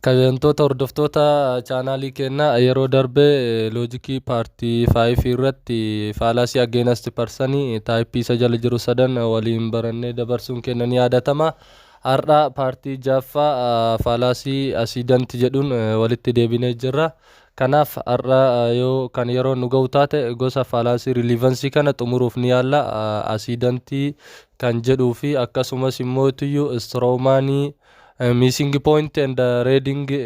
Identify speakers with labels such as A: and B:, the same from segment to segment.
A: Kabajamtoota hordoftoota chaanaalii keenyaa yeroo darbe loojikii paartii 5 irratti faalaasii ageenasti parsanii taayippii isa jala jiru sadan waliin barannee dabarsuun keenya ni yaadatama. Har'a paartii ja'affaa faalaasii asiidanti jedhuun walitti deebinee jirra. Kanaaf har'a yoo kan yeroon nu ga'u taate gosa faalaasii riiliivansii kana xumuruuf ni yaalla. Asiidantii kan jedhuu fi akkasumas immoo tuyyu istiroomaanii miisingi pooyinti and reedingi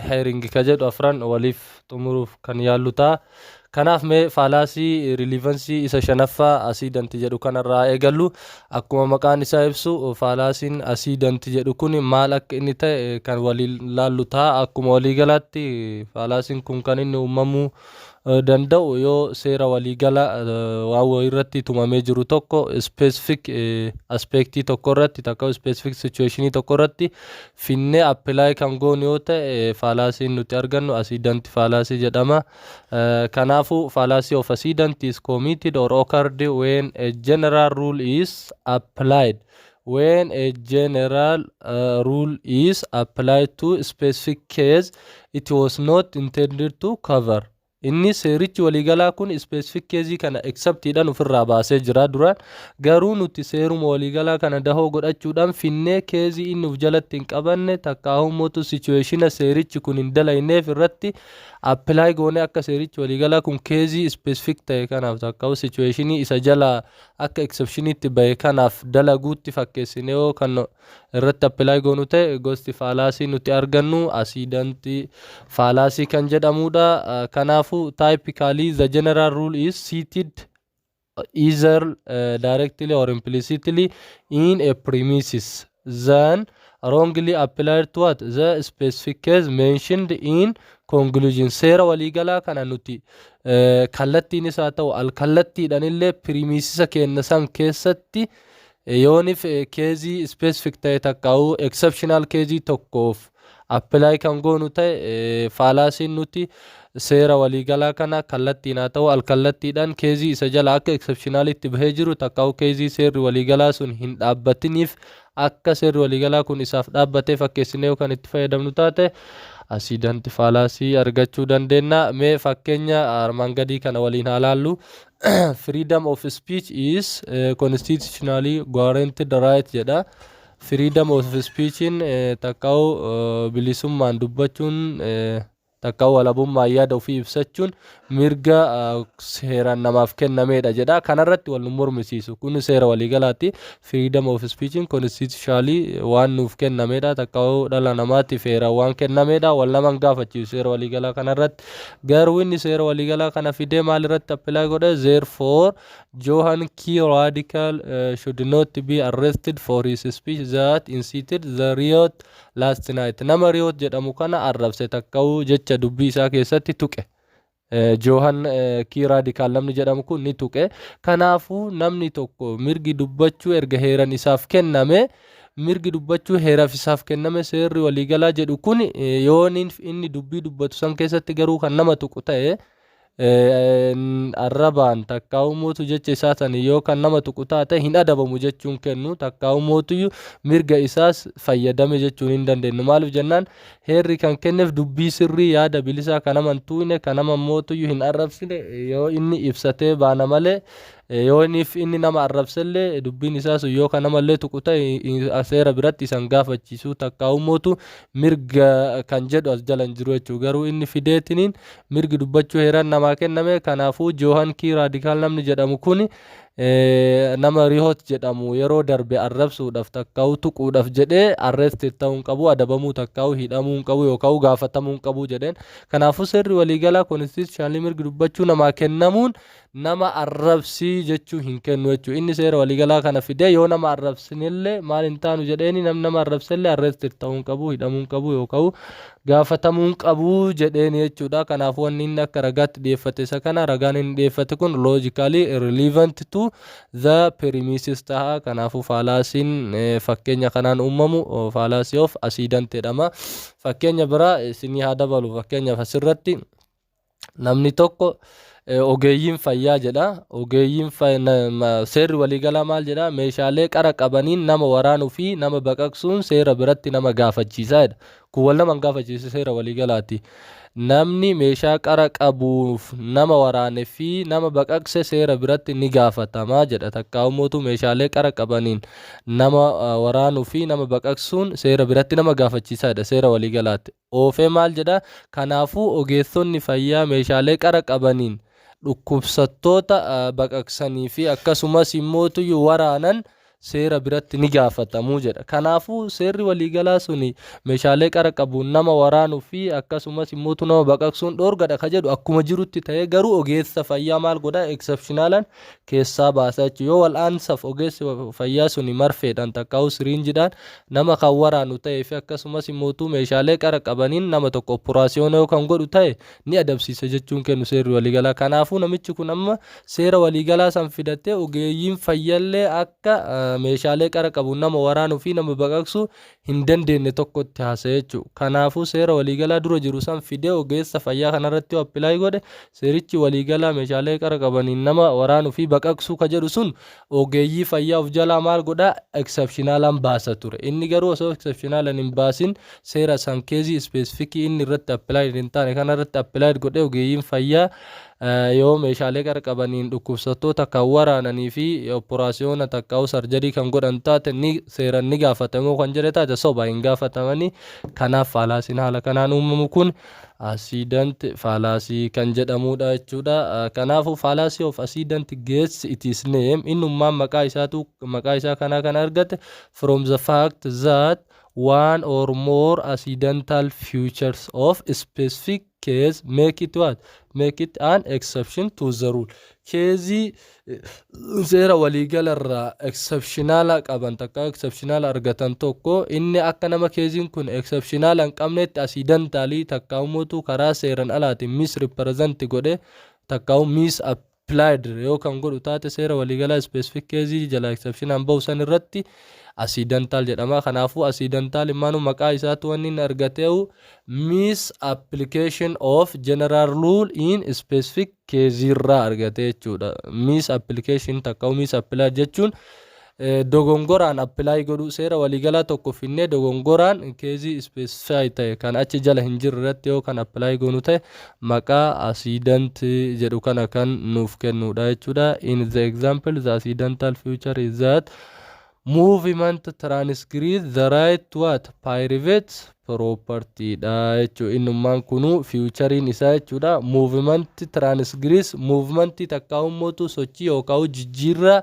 A: heeringi ka jedhu afran waliif xumuruuf kan yaallu ta'a. Kanaaf mee faalaasii riiliivansii isa shanaffaa asiidanti jedhu kanarraa haa eegallu. Akkuma maqaan isaa ibsu faalaasiin asiidanti jedhu kun maal akka inni ta'e kan waliin laallu ta'a. Akkuma waliigalaatti faalaasiin kun kan inni uumamuu danda'u yoo seera waliigala waan wayiirratti tumamee jiru tokko ispeesifik aspeektii tokko irratti takka ispeesifik sichuweeshinii tokko irratti finnee apply kan goonu yoo ta'e faalaasiin nuti argannu asiidanti faalaasii jedhama. Kanaafuu faalaasii of asiidanti is committed or occurred when a general rule is applied. When a general uh, rule is applied to specific case it was not intended to cover. Innis seerichi waliigalaa kun specific case kana except dhan ofirraa baasee jira duraan. Garuu nuti seeruma waliigalaa kana dahoo godhachuudhaan finnee case inni of jalatti hin qabanne takkaahuu mootu situationa seerichi kun hin dalayneef irratti apply goonee akka seerichi waliigalaa kun case specific ta'e kanaaf takkaahuu situationii isa jalaa akka exceptioniitti bahe kanaaf dalaguutti fakkeessineewoo kan irratti apply goonu ta'e gosti faalaasii nuti argannu accident faalaasii kan jedhamudha. Kanaafu typically the general rule is seated either uh, directly or implicitly in a premises then wrongly applied to what the specific case mentioned in conclusion seera waliigalaa kana nuti uh, kallattiinis haa ta'u alkallattiidhaan illee pirimisisa keenna san keessatti uh, Yoonif keezii specific ta'e takkaawu exceptional keezii tokkoof apply kan goonu ta'e faalaasiin nuti seera waliigalaa kana kallattiin haa ta'u alkallattiidhaan keezii isa jala akka exceptionalitti bahee jiru takkaawu keezii seerri waliigalaa sun hin dhaabbatiniif akka seerri waliigalaa kun isaaf dhaabbatee fakkeessinee yoo kan itti fayyadamnu taate asiidanti faalaasii argachuu dandeenya. Mee fakkeenya armaan gadii kana waliin haa laallu. freedom of speech is eh, constitutionally guaranteed right jedha freedom of speechiin eh, takkaawu eh, bilisummaan dubbachuun eh, takkaawu walabummaan yaada ofii ibsachuun mirga eh, seeraan namaaf kennameedha jedha kanarratti wal nu mormisiisu kun seera waliigalaati freedom of speech constitutionally waan nuuf kennameedha takkawuu dhala namaatti feeraan waan kennameedha wal naman gaafachiisu seera waliigalaa kana irratti garuu inni seera waliigalaa kana fidee maal irratti appilaa godhe therefore Johan key radical uh, should not be arrested for his speech that incited the riot last night nama riot jedhamu kana arrabse takkawuu jecha dubbii isaa keessatti tuqe Johan K. Radical namni jedhamu kun ni tuqe. Kanaafuu namni tokko mirgi dubbachuu erga heeran isaaf kenname mirgi dubbachuu heeraaf isaaf kenname seerri waliigalaa jedhu kun yoon inni dubbii dubbatu san keessatti garuu kan nama tuqu ta'e arrabaan takkaa'uu mootu jecha isaa san yoo kan nama tuqu taate hin adabamu jechuun kennu takkaa'uu mootuyyuu mirga isaas fayyadame jechuun hin dandeenyu maaliif jennaan Heerri kan kenneef dubbii sirrii, yaada bilisaa ka nama hin tuuyne, ka nama mootuyyu hin arrabsine yoo inni ibsatee baana malee, yoo inniif inni nama arrabsellee dubbiin isaa sun yoo ka namallee tuqu ta'e hin- seera biratti isa hin gaafachiisu takkaa'uu mootu mirga kan jedhu as jala hin jiru jechuudha. Garuu inni fideetiniin mirgi dubbachuu heeran namaa kenname kanaafuu Joohan Kii Raadikaal namni jedhamu kuni nama Rihoot jedhamu yeroo darbe arrabsuudhaaf takkaawu tuquudhaaf jedhee arrested ta'uu hin qabu, adabamuu takkaawu hidhamuu hin qabu yookaan gaafatamuu hin qabu jedheen. Kanaafuu seerri waliigalaa constitutionally mirgi dubbachuu namaa kennamuun nama arrabsii jechuu hin kennu jechuudha. Inni seera waliigalaa kana fidee yoo nama arrabsinillee maal hin taanu jedheeni namni nama arrabsellee arrested ta'uu hin qabu, hidhamuu hin qabu yookaan gaafatamuun qabu jedheen jechuudha. Kanaaf wanni inni akka ragaatti dhiyeeffate isa kana ragaan inni dhiyeeffate kun logically relevant to the premises taha. Kanaafuu faalaasiin fakkeenya kanaan uumamu faalaasii of asiidant jedhama. Fakkeenya biraa isinii haa dabalu fakkeenyaaf asirratti. Namni tokko ogeeyyiin fayyaa jedha. Ogeeyyiin seerri waliigalaa maal jedha? Meeshaalee qara qabaniin nama waraanuu fi nama baqaqsuun seera biratti nama gaafachiisa jedha. Kun wal nama hin gaafachiisu seera waliigalaati. Namni meeshaa qara qabuuf nama waraane fi nama baqaqse seera biratti ni gaafatama jedha. Takkaa'uu mootuu meeshaalee qara qabaniin nama waraanuu fi nama baqaqsuun seera biratti nama gaafachiisa jedha seera waliigalaati. oofee maal jedha? Kanaafuu ogeessonni fayyaa meeshaalee qara qabaniin dhukkubsattoota baqaqsanii fi akkasumas immoo tuyyu waraanan seera biratti ni gaafatamu jedha. Kanaafuu seerri waliigalaa sun meeshaalee qara qabuun nama waraanuu fi akkasumas immoo nama baqaqsuun dhoorgadha ka jedhu akkuma jirutti ta'ee garuu ogeessa fayyaa maal godha exceptionalan keessaa baasa jechuudha. Yoo wal'aansaaf ogeessi fayyaa suni marfeedhaan takkaa'uu siriinjidhaan nama kan waraanu ta'ee fi akkasumas mootuu meeshaalee qara qabaniin nama tokko oppuraasiyoona yoo kan godhu ta'e ni adabsiisa jechuun kennu seerri waliigalaa. Kanaafuu namichi kun amma seera waliigalaa san fidatee ogeeyyiin fayyallee akka meeshaalee qara qabuun nama waraanuu fi nama baqaqsuu hin dandeenye tokkotti haasa'e jechuudha. Kanaafuu seera waliigalaa dura jiru san fidee ogeessa fayyaa kanarratti yoo appilaay godhe Seerichi waliigalaa meeshaalee qara qabaniin nama waraanu fi baqaqsuu ka jedhu sun ogeeyyii fayyaa of jalaa maal godha? Exceptionalan baasa ture. Inni garuu osoo exceptionalan hin baasin seera san keezii specific inni irratti applied hin taane kana irratti applied godhee ogeeyyiin fayyaa yoo meeshaalee qara qabaniin dhukkubsattoota kan waraananii fi operaasiyoona takkaa'uu sarjarii kan godhan taate ni seeran ni gaafatamoo kan jedhe taate soba hin gaafatamanii kanaaf faalaasiin haala kanaan uumamu kun Accident fallacy kan jedhamuudha jechuudha. Kanaafuu fallacy of accident gets its name innummaan maqaa isaatu maqaa isaa kanaa kan argate from the fact that one or more accidental features of specific case make it what make it an exception to the rule keezii seera waliigala irraa eksepshinaala qaban takka eksepshinaala argatan tokko inni akka nama keeziin kun eksepshinaala hin qabnetti asii dantaalii takka umuutu karaa seeran alaatiin miis ripireezanti godhe takka miis appilaayid yoo kan godhu taate seera waliigalaa ispeesifik keezii jala eksepshinaan bahu san irratti asii dantaal jedhama kanaafuu asii dantaal immaanuu maqaa isaatu wanni inni argateehu miis appilikeeshin of jeneraal ruul in ispeesifik keeziirraa argate jechuudha. Miis appilikeeshin takka miis appilaay jechuun dogongoraan appilaay godhuu seera waliigalaa tokko finnee dogongoraan keezii ispeesifaay ta'e kan achi jala hin jirre irratti yoo kan appilaay goonu ta'e maqaa asiidant jedhu kana kan nuuf kennuudha jechuudha. In the example the accidental future is that Movement transgress the right to what? Private property dha jechuudha. Innummaan kunuu fiiwuchariin isaa jechuudha. Movement transgress movementii takkaa'uu mootu sochii yookaan jijjiirraa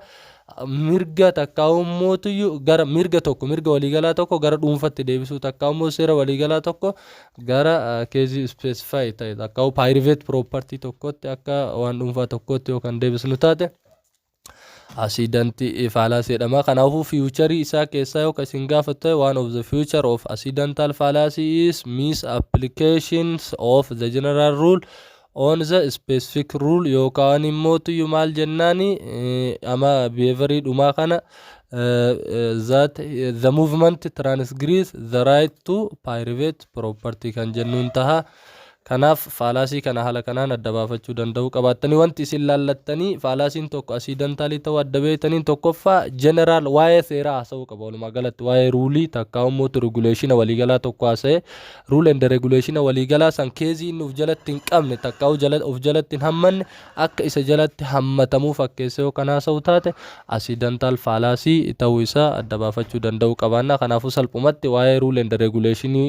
A: mirga takkaa'uu mootu gara mirga tokko mirga waliigalaa tokko gara dhuunfatti deebisuu takkaa'uu mootu seera waliigalaa tokko gara keezii ispeesifaayi ta'e takkaa'uu private property tokkotti akka waan dhuunfaa tokkotti yoo kan deebisnu taate. Asiidanti faalaasii jedhama. Kanaafuu fiiwucharii isaa keessaa yoo kan isin gaafatu ta'e one of the future of accidental fallacy is misapplications of the general rule on the specific rule yookaan immoo tuyyu maal jennaani ama behavior dhumaa kana that the movement transgress the right to private property kan jennuun taha. Kanaaf faalaasii kana haala kanaan adda baafachuu danda'uu qabaattanii wanti isin laallattanii faalaasiin tokko asiidantaalii ta'uu adda beektaniin tokkoffaa jeneraal waa'ee seeraa haasa'uu qaba walumaa galatti waa'ee ruulii takkaa immoo reguleeshina waliigalaa tokko haasa'ee ruul ende reguleeshina waliigalaa san keezii inni of jalatti hin qabne takkaa of jalatti hin hammanne akka isa jalatti hammatamuu fakkeessee yoo kan haasa'u taate asiidantaal faalaasii ta'uu isaa adda baafachuu danda'uu qabaannaa kanaafuu salphumatti waa'ee ruul ende reguleeshinii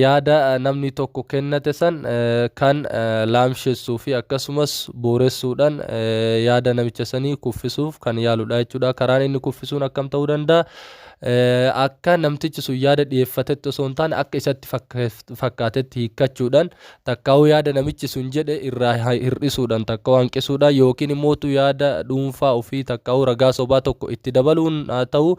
A: yaada namni tokko kennate san kan laamshessuu fi akkasumas booressuudhaan yaada namicha sanii kuffisuuf kan yaaludha jechuudha. Karaan inni kuffisuun akkam ta'uu danda'a? Akka namtichi sun yaada dhiyeeffatetti osoo hin taane akka isatti fakkaatetti hiikkachuudhaan takkaa'uu yaada namichi sun jedhe irraa hir'isuudhaan takkaa'uu hanqisuudhaan yookiin immoo yaada dhuunfaa ofii takkaa'uu ragaa sobaa tokko itti dabaluun haa ta'u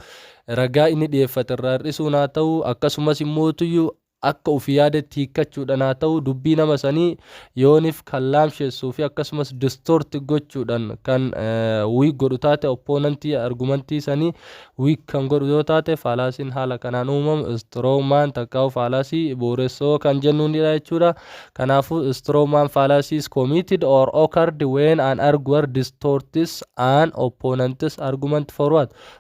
A: ragaa inni dhiyeeffate irraa hir'isuun haa ta'u, akkasumas immoo tuyyu akka ufi yaadetti hiikkachuudhan haa ta'u dubbii nama sanii yoonif kan laamshessuu fi akkasumas distort gochuudhan kan weak godhu taate opponent argumentii sanii weak kan godhu yoo taate faalaasiin haala kanaan uumamu strongman takkaa'u faalaasii bu'uuressoo kan jennuunidha jechuudha. Kanaafuu strongman fallacy is committed or occurred when an arguer distorts an opponent's argument for what?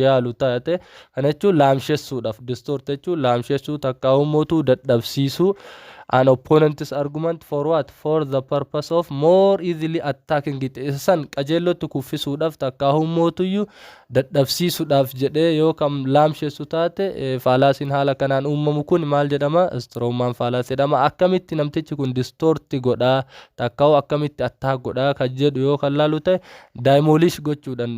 A: yaalu taate kana jechuun laamshessuudhaaf distort jechuun laamshessuu takkaa uummotuu dadhabsiisuu an opponent's argument for what for the purpose of more easily attacking it isa san qajeellotti kuffisuudhaaf takkaa uummotuyyuu dadhabsiisuudhaaf jedhee yoo kam laamshessu taate faalaasiin haala kanaan uumamu kun maal jedhama strongman faalaas jedhama akkamitti namtichi kun distorti godhaa takkaa'u akkamitti attaak godhaa kan jedhu yoo kan laalu ta'e Daayimooliish gochuudhaan,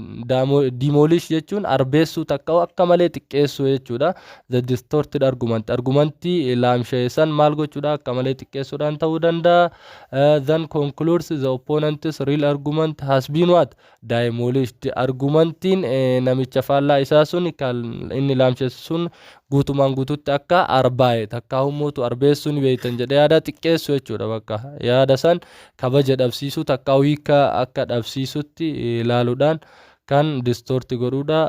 A: demolish jechuun arbeessuu takka'u akka malee xiqqeessuu jechuudha. The distorted argument, argumentii laamsha'e san maal gochuudha akka malee xiqqeessuudhaan ta'uu danda'a. Eh, then concludes the opponent's real argument has been what? Daayimooliished. Argumentiin eh, namicha faallaa isaa sun kan inni laamshessu sun guutumaan guututti akka arbaa'e takkaa hummuutu arbeessuu ni beeytan jedhe yaada xiqqeessu jechuudha bakka yaada san kabaja dhabsiisuu takkaa'u hiika akka dhabsiisutti ilaaluudhaan kan distort godhuudha.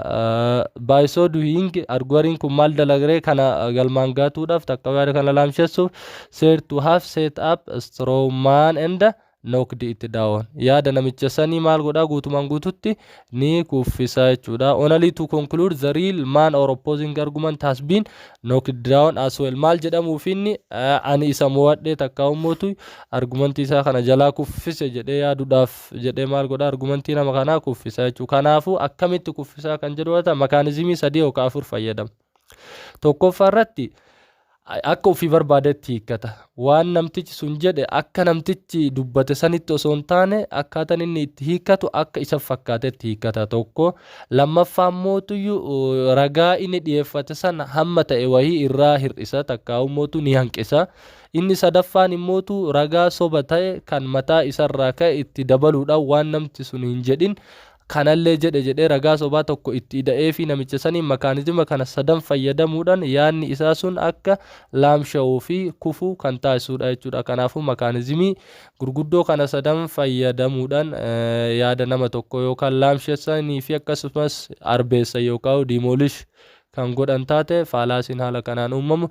A: By so doing arguariin kun maal dalagree kana galmaan gaatuudhaaf takkaa'u yaada kana laamshessuuf said to have set up a strong man and knocked it down yaada namicha sanii maal godhaa guutumaan guututti ni kuffisa jechuudha. Only to conclude the real man or opposing argument has been knocked down as well. Maal jedhamuuf inni ani isa mo'adhee takka ummootu argumentii isaa kana jalaa kuffise jedhee yaaduudhaaf jedhee maal godha argumentii nama kanaa kuffisa jechuudha. Kanaafuu akkamitti kuffisaa kan jedhu makaanizimii sadii yookaan afur fayyadama. Tokkoffaa irratti akka ofii barbaadetti hiikkata. Waan namtichi sun jedhe akka namtichi dubbate sanitti osoo hin taane akkaataan inni itti hiikkatu akka isa fakkaatetti hiikkata tokko. Lammaffaa mootuyyu ragaa inni dhiyeeffate san hamma ta'e wahii irraa hir'isa takkaa'u mootu ni hanqisa. Inni sadaffaan immootu ragaa soba ta'e kan mataa isarraa ka'e itti dabaluudhaan waan namti sun hin jedhin kanallee jedhe jedhee ragaa sobaa tokko itti ida'eefii namicha saniin makaanizima kana sadan fayyadamuudhaan yaadni isaa sun akka laamsha'uu fi kufu kan taasisuudha jechuudha. Kanaafuu makaanizimii gurguddoo kana sadan fayyadamuudhaan yaada nama tokkoo yookaan laamshessanii fi akkasumas arbeessa yookaan diimoolish kan godhan taate faalaasiin haala kanaan uumamu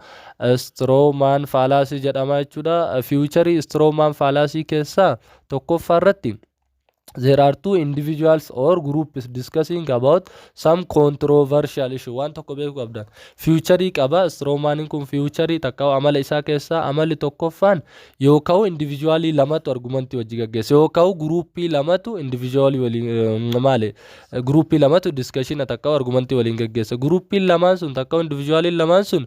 A: istiroomaan faalaasii jedhama jechuudha. Fiiwucharii istiroomaan faalaasii keessaa tokkoffaa irratti there are two individuals or groups discussing about some controversial issue waan tokko beekuu qabdan fiiwucharii qaba istiroomaaniin kun fiiwucharii takka amala isaa keessaa amalli tokkoffaan yoo ka'u individualii lamatu argumantii wajji gaggeessa yoo ka'u guruuppii lamatu individualii waliin eh, maali eh, guruuppii lamatu diskashina takka argumantii waliin gaggeessa guruuppiin lamaan sun takka individualiin lamaan sun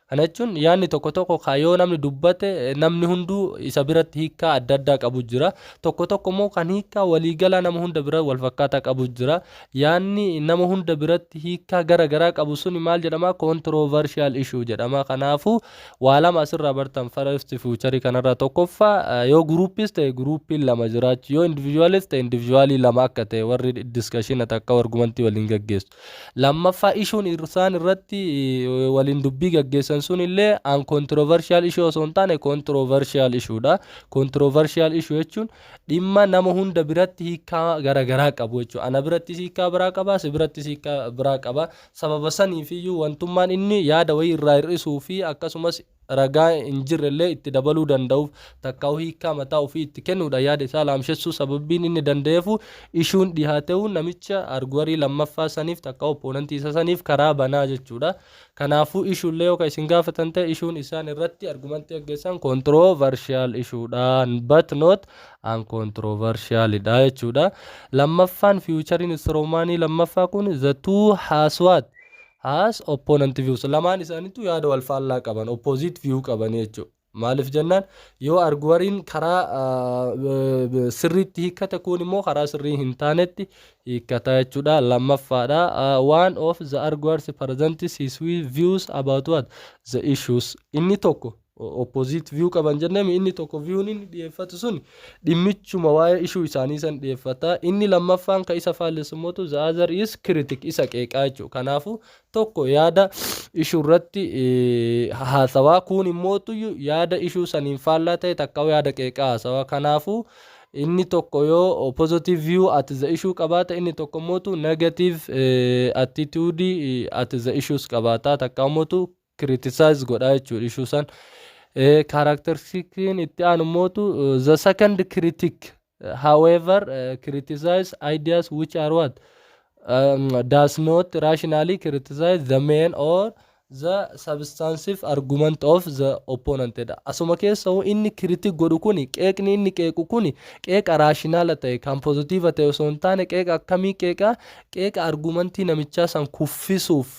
A: Kana jechuun yaadni tokko tokko kan yoo namni dubbate namni hunduu isa biratti hiikkaa adda addaa qabu jira. Tokko tokko immoo kan hiikkaa waliigalaa nama hunda bira walfakkaataa qabu jira. Yaadni nama hunda biratti hiikkaa gara garaa qabu suni maal jedhama? Controversial issue jedhama. Kanaafuu waa lama asirraa bartan first future kanarraa tokkoffaa eh, yoo groupiis ta'e groupiin lama jiraachu yoo individualis ta'e individualii lama akka ta'e warri discussion takka argumentii waliin gaggeessu. Lammaffaa ishuun isaan irratti waliin dubbii gaggeessan sun illee an controversial issue osoo hin taane controversial issue dha. Controversial issue jechuun dhimma nama hunda biratti hiikaa garaagaraa qabu jechuudha. Ana birattis hiikaa biraa qaba, si birattis hiikaa biraa qaba. Sababa saniif iyyuu wantummaan inni yaada wayii irraa hir'isuu fi akkasumas ragaa hin jirre illee itti dabaluu danda'uuf takkaa'uu hiikkaa mataa ofii itti kennuudha yaada isaa laamshessuu sababbiin inni danda'eefu ishuun dhihaate'uu namicha arguarii lammaffaa saniif takka opponent isa saniif karaa banaa jechuudha kanaafuu issue illee yoo ka isin gaafatan ta'e issuun isaan irratti argumentii aggeessan controversial issue dha but not uncontroversial dha jechuudha lammaffaan future instrumaanii lammaffaa kun the two has what has opponent views lamaan isaanitu yaada wal faallaa qaban opposite view qabanii jechu maalif jennaan yoo arguwariin karaa sirriitti hiikkate kuun immoo karaa sirrii hin taanetti hiikkata jechuudha lammaffaadha one of the arguers presents his views about what the issues inni tokko opposite view qaban jennemi inni tokko view'n inni dhiyeeffatu sun dhimmichuma waa'ee ishuu isaanii san dhiyeeffata inni lammaffaan ka isa faallessummootu the other is critic isa qeeqaa jechuudha kanaafu tokko yaada ishuu irratti haasawaa kuun immootu yaada ishuu saniin faallaa ta'e takka yaada qeeqaa haasawaa kanaafu inni tokko yoo positive view at the issue qabaata inni tokko immootu negative attitude at the issues qabaata takka immootu criticize godha jechuudha ishuu san Eh, characteristikiin itti aanu mootu eh, the second critic eh, however eh, criticize ideas which are what um, does not rationally criticize the main or the substantive argument of the opponent jedha asuma keessa hoo inni critic godhu kuni qeeqni inni qeequ kuni qeeqa raashinaala ta'e kan pozitiiva ta'e osoo hin taane qeeqa akkamii qeeqa qeeqa argumentii namichaa san kuffisuuf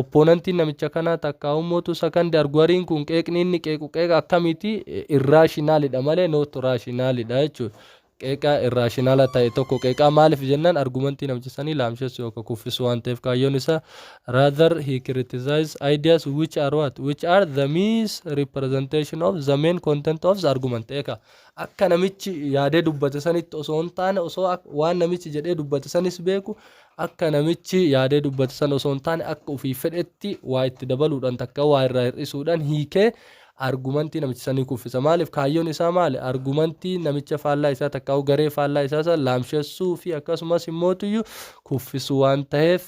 A: Opponentiin namicha kanaa takkaahuu mootu sakandi arguariin kun qeeqni inni qeequ qeeqa akkamiiti irrational dha malee not rational dha jechuudha. Qeeqa irrational ta'e tokko qeeqaa maaliif jennaan argumentii namicha sanii laamshessu yookaan kuffisu waan ta'eef kaayyoon isaa rather he criticizes ideas which are what which are the misrepresentation of the main content of the argument eeka akka namichi yaadee dubbate sanitti osoo hin taane osoo waan namichi jedhee dubbate sanis beeku Akka namichi yaadee dubbate sana osoo hin taane akka ofii fedhetti waa itti dabaluudhaan takka waa irraa hir'isuudhaan hiikee argumantii namicha sanii kuffisa. Maaliif? Kaayyoon isaa maali? Argumantii namicha faallaa isaa takkaa'uu garee faallaa isaa sana laamshessuu fi akkasumas immootuyyu kuffisuu waan taheef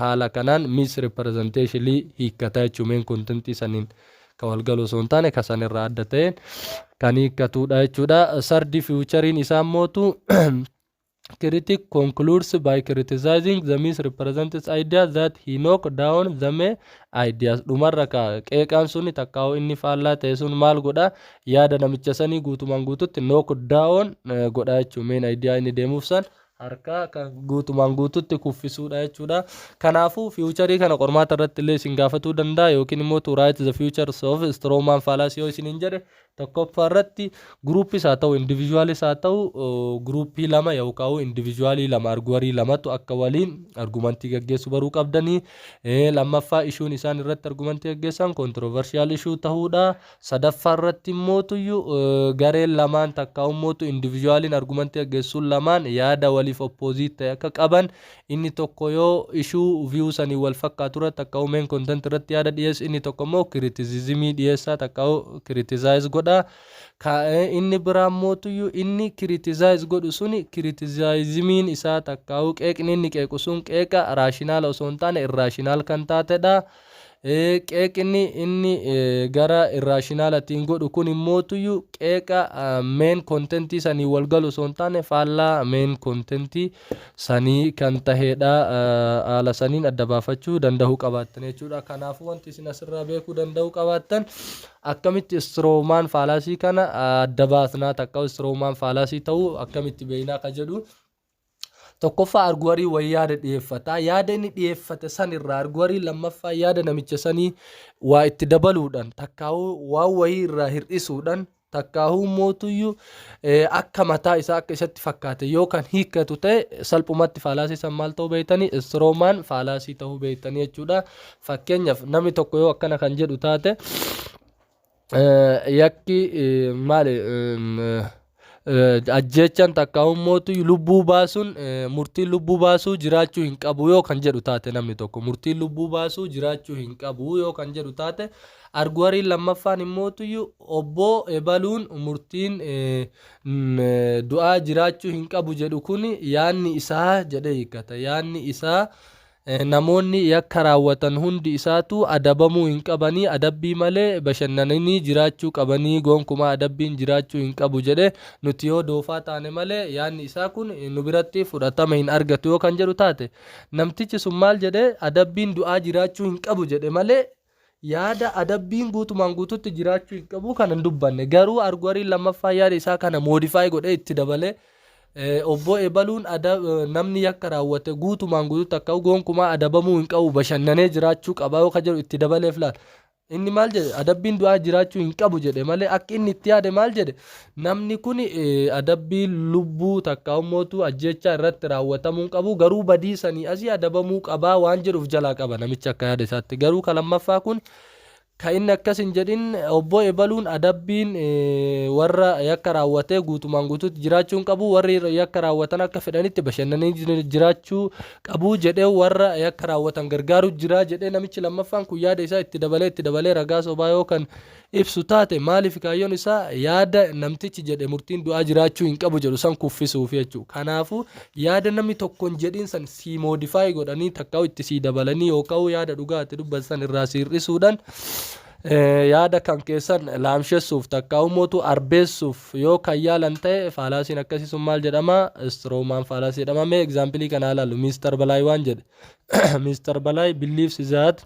A: haala kanaan misrepresentationly hiikkata jechuu main content saniin ka wal galu osoo hin taane ka san irraa adda taheen kan hiikkatuudha jechuudha. Sardi fiwuchariin isaa immootu critic concludes by criticizing the misrepresents idea that he knock down the me ideas dhumarra ka qeeqaan suni takkaa'u inni faallaa ta'e sun maal godha yaada namicha sanii guutumaan guututti knock down godha jechuu meen idea inni deemuuf san harkaa kan guutumaan guututti kuffisuudha jechuudha. Kanaafuu fiiwucharii kana qormaata irratti illee isin gaafatuu danda'a yookiin immoo to write the futures of Stroman fallacy yoo isiniin jedhe Tokkoffaarratti groups haa ta'u individuals haa ta'u group lama yookaan individual lama arguwarii lamatu akka waliin argumantii gaggeessu baruu qabdanii. Lammaffaa issue'n isaan irratti argumantii gaggeessan controversial issue ta'uudha. Sadaffaarratti immoo tuyyu gareen lamaan takkaa ummootu individualin argumantii gaggeessuun lamaan yaada waliif opposite ta'e akka qaban Inni tokko yoo ishuu, view, saniin wal fakkaatu irratti takkaa'uu main content irratti yaada dhiyeessi, inni tokko immoo kiritizizimii dhiyeessaa takkaa'uu criticize godha. Ka, inni biraa immootuyyu inni criticize godhu suni kiritizizimiin isaa takkaa'uu qeeqni inni qeequ sun qeeqa raashinaala osoo hin taane irraashinaal kan taatedha. Qeeqni inni gara irraashinaalattiin godhu kun immootuyyuu qeeqa meen kontentii sanii wal galu osoo hin taane faallaa meen kontentii sanii kan taheedha. Haala saniin adda baafachuu danda'uu qabaattan jechuudha. Kanaafuu wanti isin asirraa beekuu danda'uu qabaattan akkamitti istiroomaan faalaasii kana adda baasnaa takka istiroomaan faalaasii ta'uu akkamitti beeknaa ka jedhu Tokkoffaa arguwariin wayii yaada dhiyeeffata. Yaada inni dhiyeeffate san irraa arguwariin lammaffaa yaada namicha sanii waa itti dabaluudhaan takkaahuu waan wayii irraa hir'isuudhaan takkaahuu mootuyyuu akka mataa isaa akka isatti fakkaate yoo kan hiikkatu ta'e salphumatti faalaasii san maal ta'uu beektanii istiroomaan faalaasii ta'uu beektanii jechuudha. Fakkeenyaaf namni tokko yoo akkana kan jedhu taate. yakki maali ajjeechaan takkaa'ummoo lubbuu baasuun murtiin lubbuu baasuu jiraachuu hin qabu yoo kan jedhu taate namni tokko murtiin lubbuu baasuu jiraachuu hin qabu yoo kan jedhu taate arguwariin lammaffaan immoo obboo ebaluun murtiin du'aa jiraachuu hin qabu jedhu kun yaanni isaa jedhee hiikkata yaanni isaa Namoonni yakka raawwatan hundi isaatuu adabamuu hin qabanii adabbii malee bashannananii jiraachuu qabanii goonkumaa adabbiin jiraachuu hin qabu jedhe nuti yoo doofaa taane malee yaadni isaa kun nu biratti fudhatama hin argatu yoo kan jedhu taate namtichi sun maal jedhe adabbiin du'aa jiraachuu hin qabu jedhe malee Yaada adabbiin guutumaan guututti jiraachuu hin qabu kana hin dubbanne. Garuu arguariin lammaffaa yaada isaa kana moodifaayi godhee itti dabalee obboo ebaluun namni yakka raawwate guutumaan guututti akka gonkumaa adabamuu hin qabu bashannanee jiraachuu qaba yoo ka jedhu itti dabaleef laal. Inni maal jedhe adabbiin du'aa jiraachuu hin qabu jedhe malee akka inni itti yaade maal jedhe Namni kun adabbii lubbuu takkaaumootu ajjeechaa irratti raawwatamuu hin qabu, garuu badii sanii asii adabamuu qabaa waan jedhu of jalaa qaba namichi akka yaada isaatti. Garuu ka lammaffaa kun ka inni akkas hin jedhin obbo ebaluun adabbiin warra yakka raawwatee guutumaan guutuutti jiraachuu hin qabu, warri yakka raawwatan akka fedhanitti bashannanii jiraachuu qabu jedhee warra yakka raawwatan gargaaru jira jedhee namichi lammaffaan kun yaada isaa itti dabalee itti dabalee ragaa sobaa yoo kan ibsu taate maaliif kaayyoon isaa yaada namtichi jedhe murtiin du'aa jiraachuu hin qabu jedhu san kuffisuufi jechuudha. Kanaafuu yaada namni tokko hin jedhin san sii moodifaayi godhanii takkaa'u itti sii dabalanii yookaan yaada dhugaa itti dubbatan san irraa sii hir'isuudhaan yaada kan keessan laamshessuuf takkaa'u mootu arbeessuuf yoo kan yaalan ta'e faalaasiin akkasii sun maal jedhama istiroomaan faalaasii jedhama mee egzaampilii kanaa ilaalu miistar balaay waan jedhe miistar balaay biliifsi zaat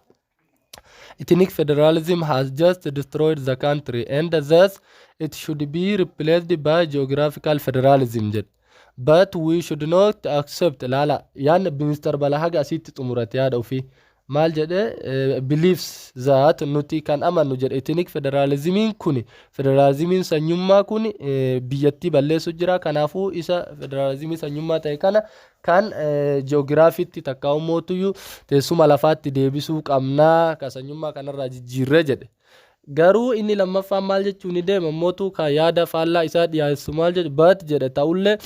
A: Ethnic federalism has just destroyed the country and thus it should be replaced by geographical federalism jedhe. But we should not accept laala yaan Mr. Balahaga asitti xumurate yaada ofii. Maal jedhe eh, believes that nuti kan amannu jedhe ethnic federalismiin kun federalismiin sanyummaa kun eh, biyyattii balleessu jira kanaafuu isa federalismii sanyummaa ta'e kana Kan ji'oogiraafiitti takkaa ummootuyyuu teessuma lafaatti deebisuu qabnaa ka sanyummaa kanarraa jijjiirree jedhe. Garuu inni lammaffaan maal jechuu ni deema immootu ka yaada faallaa isaa dhiyaessu maal jedhu but jedhe ta'ullee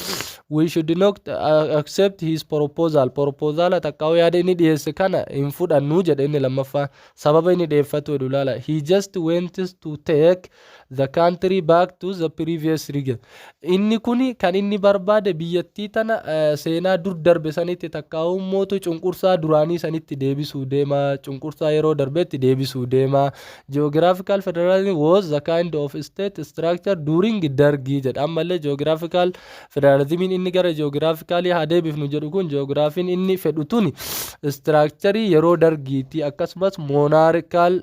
A: we should not accept his proposal propozaala takkaa yaada inni dhiyeesse kana hin fudhannu jedhe inni lammaffaan sababa inni dhiyeeffatu jedhu laala he just wants to take the country back to the previous region. Inni kun kan inni barbaade biyyattii tana seenaa dur darbe sanitti takkaa'uu mootu cunqursaa duraanii sanitti deebisuu deema cunqursaa yeroo darbetti deebisuu deema. Geographical federalism was the kind of state structure during dargii jedha ammallee geographical Federaalizimiin inni gara ji'oogiraafikaalii haa deebifnu jedhu kun ji'oogiraafiin inni fedhu tuni istiraakcharii yeroo dargiitii akkasumas moonaarikaal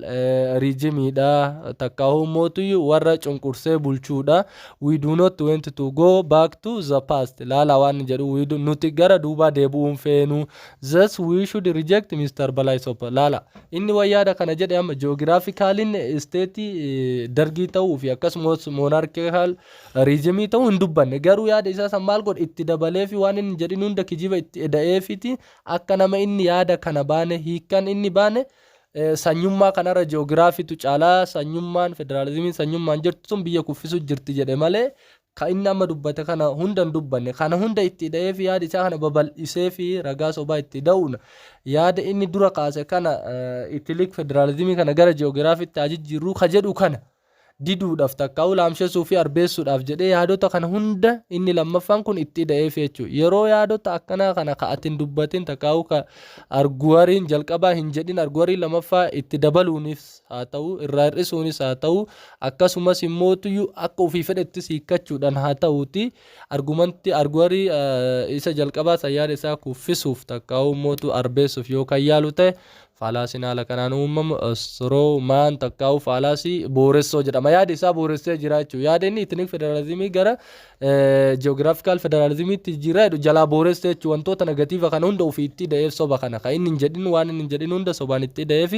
A: riijimiidha takkaahuu mootuyyuu warra cunqursee bulchuudha we do not want to go back to the past ilaalaa waan jedhu we do, nuti gara duubaa deebi'uun feenu thus we should reject Mr. Balai Sopa laala inni wayyaada kana jedhe amma ji'oogiraafikaaliin isteetii dargii ta'uu fi akkasumas moonaarikaal Riizimii ta'uu hin dubbanne. Garuu yaada isaa san maal godhe? Itti dabaleefii waan inni hin jedhin hunda kijiba itti eda'eefiiti akka nama inni yaada kana baane. Hiikkan inni baane sanyummaa kanarra ji'oogiraafiitu caala. Sanyummaan, federaalizimiin sanyummaan jirtu tun biyya kuffisuu jirti jedhe malee ka inni amma dubbate kana hunda hin dubbanne. Kana hunda itti eda'eefii yaada isaa kana babal'iseefii ragaa sobaa itti eda'uun yaada inni dura kaase kana itilik federaalizimii kana gara ji'oogiraafiitti haa jijjiirruu ka jedhu kana. diduudhaaf takkaa'uu laamshessuu fi arbeessuudhaaf jedhee yaadota kana hunda inni lammaffaan kun itti ida'eef jechuudha. Yeroo yaadota akkanaa kana ka ati hin dubbatin takkaa'uu ka arguwariin jalqabaa hin jedhin arguwariin lamaffaa itti dabaluunis haa ta'u irraa hir'isuunis haa ta'u akkasumas immoo tuyyu akka ofii fedhettis hiikkachuudhaan haa ta'uuti argumanti arguwarii isa jalqabaa san yaada isaa kuffisuuf takkaa'uu mootu arbeessuuf yoo kan yaalu ta'e Faalaasiin haala kanaan uumamu, straw man takkaa'uu faalaasii booressoo jedhama. Yaadi isaa booressee jira jechuudha. Yaada inni ethnic federalismii gara geographical federalismiitti jijjiiraa jedhu jalaa booressee jechuudha. Wantoota negatiiva kana hunda ofii itti da'eef soba kana. Kan inni hin jedhin waan inni hin jedhin hunda sobaan itti da'eef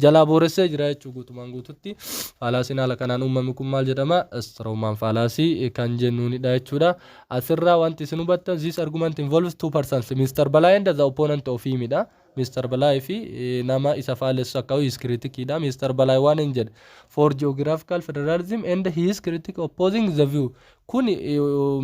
A: jalaa booressee jira jechuudha guutumaan guututti. Faalaasiin haala kanaan uumame kun maal jedhama? Straw man faalaasii kan jennuunidha jechuudha. Asirraa wanti isin hubattan this argument involves two persons, Mr. Balaa and the opponent of him dha. Mr Balaay fi nama isa faalessu akka his critic dha. Mr Balaay waan in jedhe for geographical federalism and his critic opposing the view kun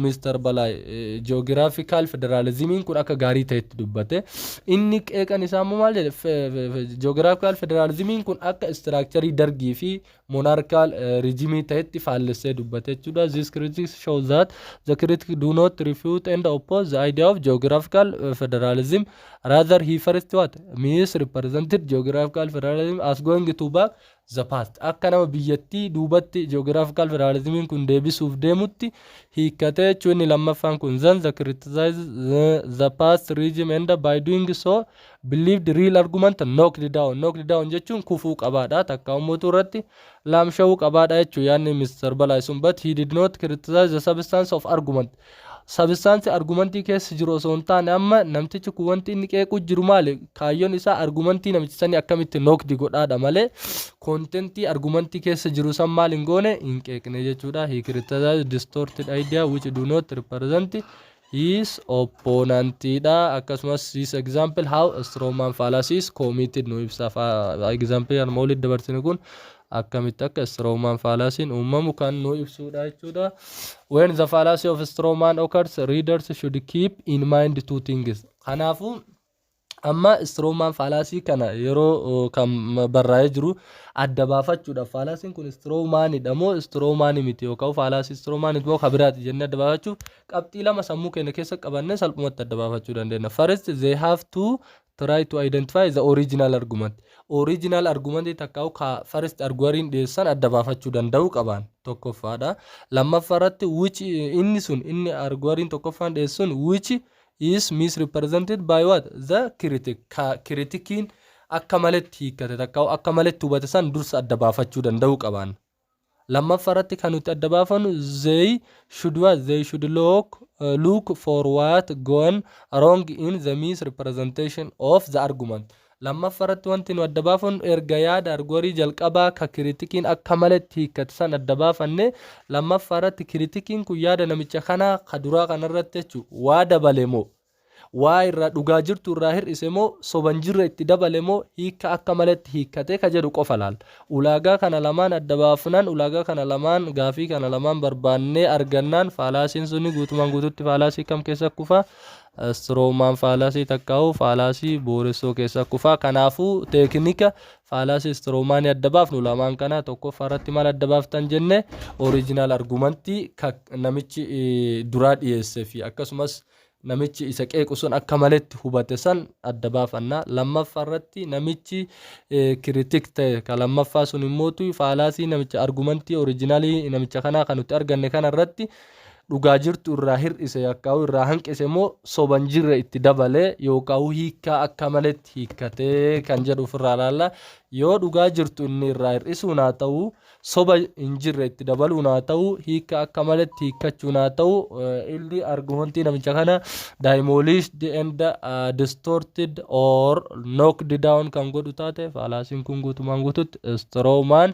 A: Mr Balaay geographical federalismiin kun akka gaarii ta'etti dubbate. Inni qeeqan isaa immoo maal jedhe geographical federalismiin kun akka istiraakcharii dargii fi monarchical regime ta'etti faallessee dubbate jechuudha. These critics show that the critics do not refute and oppose the idea of geographical uh, federalism. Rather, he first what? Misrepresented geographical federalism as going to back the past. Akka nama biyyattii duubatti geographical federalismiin kun deebisuuf deemutti hiikkatee jechuun inni lammaffaan kun then the criticize the, the past regime and by doing so believed real argument knocked down knocked down jechuun kufuu qabaadha takka ummuutu irratti laamsha'uu qabaadha jechuu yaanni Mr. Balai sun but he did not criticize the substance of argument sabistaansi argumentii keessa jiru osoo hin taane amma namtichi kun wanti inni qeequu jiru maali kaayyoon isaa argumentii namicha sanii akkamitti nookdi godhaadha malee kontentii argumentii keessa jiru san maal hin goone hin qeeqne jechuudha he criticized distorted idea which do not represent his opponent dha. Akkasumas this example how a strong man fallacy is committed nu ibsa. Fa- Example arma olitti dabarsine kun akkamitti akka strong man fallacy uumamu kan nu ibsuudha jechuudha. When the fallacy of strong man occurs, readers should keep in mind two things. Kanaafuu Amma Stroman faalaasii kana yeroo kan barraa'ee jiru adda baafachuudhaaf faalaasiin kun Stromanidha moo Stroman miti yookaan faalaasii Stroman moo kan biraati jennee adda baafachuuf qabxii lama sammuu keenya keessa qabannee salphumatti adda baafachuu dandeenya. First they have to try to identify the original argument. Original argument takka ka first arguariin dhiyeessan adda baafachuu danda'uu qaban tokkoffaadha. Lammaffaa irratti which inni sun inni arguariin tokkoffaan dhiyeessun which is misrepresented by what? the critic ka kiritikiin akka maletti hiikkate takka akka maletti hubate san dursa adda baafachuu danda'uu qabaanna. Lammaffa irratti kan nuti adda baafannu they should what? they should look, look for what gone wrong in the misrepresentation of the argument. Lammaffa irratti wanti nu adda baafannu erga yaada argorii jalqabaa ka kiritikiin akka maletti hiikkate san adda baafanne, lammaffaa irratti kiritikiin kun yaada namicha kanaa ka duraa kana irratti jechu waa dabale moo, waa irraa dhugaa jirtu irraa hir'ise moo, soba hin jirre itti dabale moo, hiikka akka maletti hiikkate ka jedhu qofa laalla. Ulaagaa kana lamaan adda baafnan, ulaagaa kana lamaan, gaafii kana lamaan barbaannee argannaan faalaasiin suni guutumaan guututti faalaasii kam keessa kufa? Stroman fallacy takkaahuu fallacy booressoo keessa kufa. Kanaafuu teeknika fallacy stroman adda baafnu lamaan kana tokkoffaa irratti maal adda baaftan jenne original argument ka namichi duraa dhiyeesse fi akkasumas namichi isa qeequ sun akka maletti hubate san adda baafanna. Lammaffaa irratti namichi kiritik ta'e ka lammaffaa sun immootu faalaasii namicha argumentii originalii namicha kanaa kan nuti arganne kana irratti dhugaa jirtu irraa hir'ise yookaan irraa hanqise moo soba hin jirre itti dabale yookaan hiikkaa akka maletti hiikkatee kan jedhu ofirraa ilaalla. Yoo dhugaa jirtu inni irraa hir'isuun haa ta'u soba hin jirre itti dabaluun haa ta'u hiikka akka maletti hiikkachuun haa ta'u eh, illi argumentii namicha kana demolished and uh, distorted or knocked down kan godhu taate faalaasiin kun guutumaan guututti strowman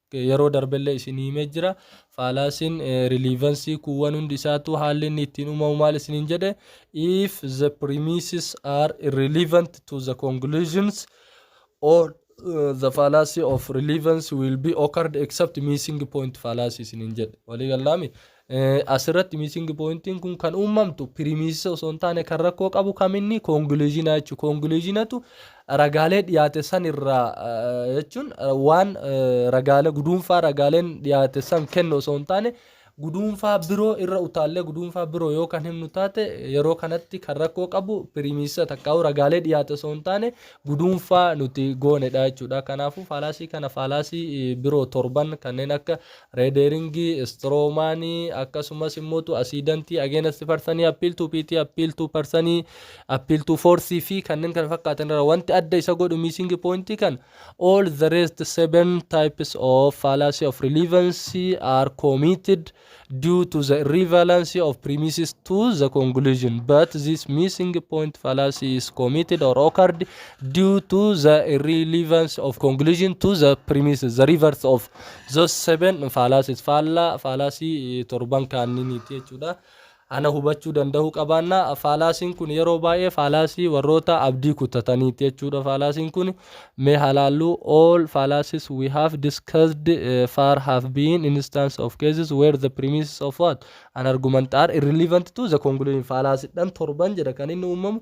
A: Yeroo darbellee isinii himee jira. Faalaasiin riliivansii kuuwwan hundi isaatuu haalli inni ittiin uumamu maal isiniin jedhe? If the premises are irrelevant to the conclusions all the fallacy of relevance will be occurred except missing point fallacy isiniin jedhe. Walii gallaami? Asirratti missing pointiin kun kan uumamtu piriimiisisa osoo hin taane kan rakkoo qabu kaminni koongiluuzhinaa jechuudha. Koongiluuzhinatu ragaalee dhiyaate san irraa jechuun waan ragaalee guduunfaa ragaaleen dhiyaate san kennu osoo hin taane guduunfaa biroo irra utaallee guduunfaa biroo yoo kan himnu taate yeroo kanatti kan rakkoo qabu piriimiisisa takkaa'u ragaalee dhiyaate osoo hin taane guduunfaa nuti goonedha jechuudha. Kanaafuu faalaasii kana faalaasii biroo torban kanneen akka Reederiingii, Istiroomaanii, akkasumas immoo asiidantii, ageenasti parsanii, appiil tuu piitii, appiil tuu parsanii, appiil tuu foorsii fi kanneen kana fakkaatan irra wanti adda isa godhu miisiingi pooyintii kan all the rest seven types of fallacy of relevancy are committed due to the irrevalancy of premises to the conclusion but this missing point fallacy is committed or occurred due to the irrelevance of conclusion to the premises the reverse of Those seven fallacies faallaa faalaasii torban kaanniiniiti jechuudha. Ana hubachuu danda'uu qabaanna. Faalaasiin kun yeroo baay'ee faalaasii warroota abdii kutataniiti jechuudha. Faalaasiin kun mee halaallu all fallacies we have discussed uh, far have been instances of cases where the premises of what an argument are irrelevant to the conclusion faalaasiidhaan torban jedha kan inni uumamu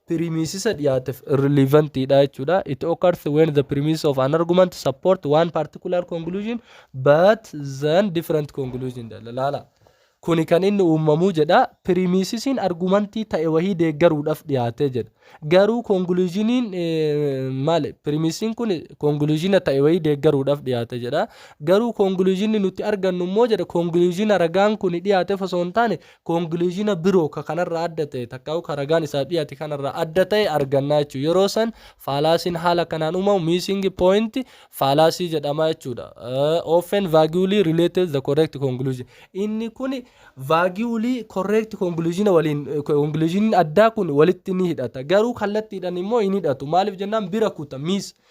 A: pirimisisa dhiyaateef irrelevant dha jechuudha. It occurs when the premises of an argument support one particular conclusion but then different conclusion dha. Laala. Kuni kan inni uumamuu jedha pirimisisiin argumentii ta'e wahii deeggaruudhaaf dhiyaatee jedha. Garuu conclusioniin maali pirimisiin kun conclusiona ta'e wahii deeggaruudhaaf dhiyaate jedha. Garuu conclusionni nuti argannu immoo jedha conclusiona ragaan kun dhiyaateef osoo hin taane conclusiona biroo ka kanarraa adda ta'e takkaa'u ka ragaan isaaf dhiyaate kanarraa adda ta'e argannaa jechuudha. Yeroo san faalaasiin haala kanaan uumamu missing point faalaasii jedhamaa jechuudha. Uh, often vaguely related the correct conclusion. Inni kun vaguely correct conclusion waliin conclusion addaa kun walitti ni hidhata. Garuu kallattiidhaan immoo hin hidhatu. Maaliif jennaan bira kuta miss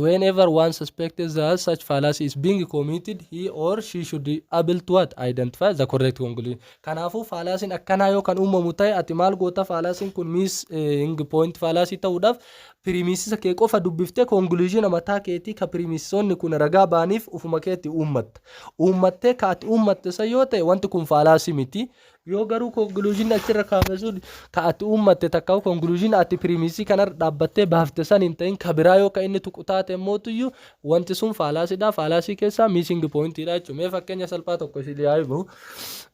A: whenever one suspects that such fallacy is being committed he or she should be able to what identify the correct conclusion kanaafuu faalaasiin akkanaa yoo kan uumamu ta'e ati maal goota faalaasiin kun miis hing pooint faalaasii ta'uudhaaf piriimiisisa kee qofa dubbiftee konkuluuzina mataa keetii ka piriimiisisoonni kun ragaa baaniif ufuma keetti uummatta uummattee ka ati uummatte san yoo ta'e wanti kun faalaasii miti Yoo garuu conclusion achirra kaafne sun ka ati uummatte takka conclusion ati premise kanarra dhaabbattee baafte san hin ta'in ka biraa yoo ka inni tuqu taate immootuyyuu wanti sun faalaasiidha faalaasii keessaa missing pointiidha jechuudha mee fakkeenya salphaa tokko isin yaa himu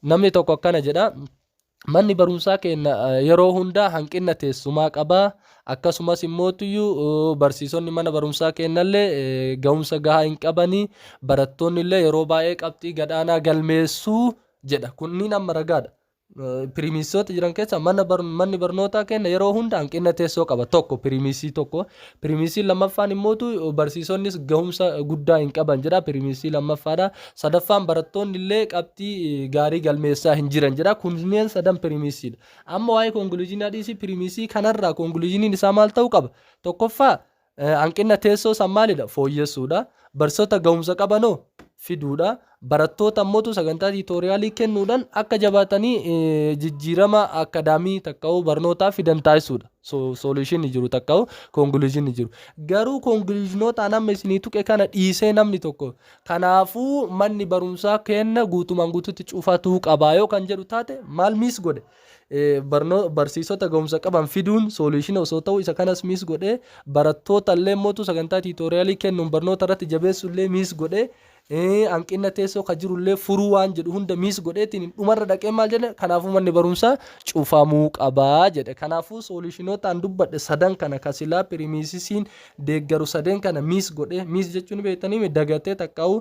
A: namni tokko akkana jedha manni barumsaa keenya eh, yeroo hundaa hanqina teessumaa qabaa akkasumas immootuyyuu eh, barsiisonni mana barumsaa keenyallee eh, ga'umsa gahaa hin qabanii barattoonni illee yeroo baay'ee qabxii gadaanaa galmeessuu jedha. Kunniin amma ragaadha. Piriimiisoota jiran keessa manni barnootaa kenna yeroo hunda hanqina teessoo qaba. Tokko piriimiisii tokko. Piriimiisiin lammaffaan immootu barsiisonnis gahumsa guddaa hin qaban jedha. Piriimiisii lammaffaadha. Sadaffaan barattoonni illee qabxii gaarii galmeessaa hin jiran jedha. Kunneen sadan piriimiisiidha. Amma waa'ee konkuluuziinaa dhiisii piriimiisii kanarraa konkuluuziiniin isaa maal ta'uu qaba? Tokkoffaa Hanqinna teessoo san maalidha? Fooyyessuudha. Barsiisota gahumsa qabanoo? Fiduudha. Barattoota ammootu sagantaa tiitooriyaalii kennuudhaan akka jabaatanii jijjiirama akkadaamii takka'uu barnootaa fidan taasisuudha. Sooluushinni jiru takka'uu konkuluushinni jiru. Garuu konkuluushinootaan amma isinii tuqe kana dhiisee namni tokko kanaafuu manni barumsaa kenna guutumaan guututti cufatuu qabaa yoo kan jedhu taate maal miis godhe? barnoo barsiisota gahumsa qaban fiduun sooluushina osoo ta'u isa kanas miis godhe barattoota illee mootu sagantaa tiitooriyaalii kennuun barnoota irratti jabeessu illee miis godhe hanqina teessoo ka jiru illee furuu waan jedhu hunda miis godheetiin dhumarra dhaqee maal jedhe kanaafuu manni barumsaa cufamuu qabaa jedhe kanaafuu sooluushinootaan dubbadhe sadan kana ka silaa piriimiisisiin deeggaru sadeen kana miis godhe miis jechuun beektanii dagatee takkaawu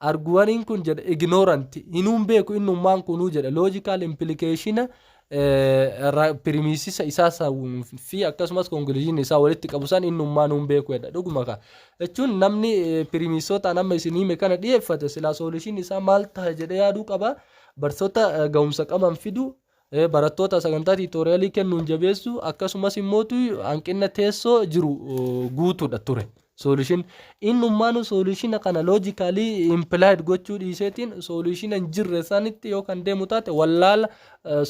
A: argu waniin kun jedha ignorant hinuun beeku innummaan kunuu jedha logical implication pirimisisa isaa san fi akkasumas conclusion isaa walitti qabu san innummaa nuun beeku jedha dhuguma ka jechuun namni pirimisootaan amma isin hime kana dhiyeeffate silaa soolishin isaa maal taha jedhe yaaduu qaba barsoota ga'umsa qaban fidu Barattoota sagantaa tiitooriyaalii kennuun jabeessuu akkasumas immoo hanqina teessoo jiru guutuudha ture. Soolishin innummaanuu soolishina kana loojikaalii impilaayid gochuu dhiiseetiin soolishina hin jirre sanitti yoo kan deemu taate wallaala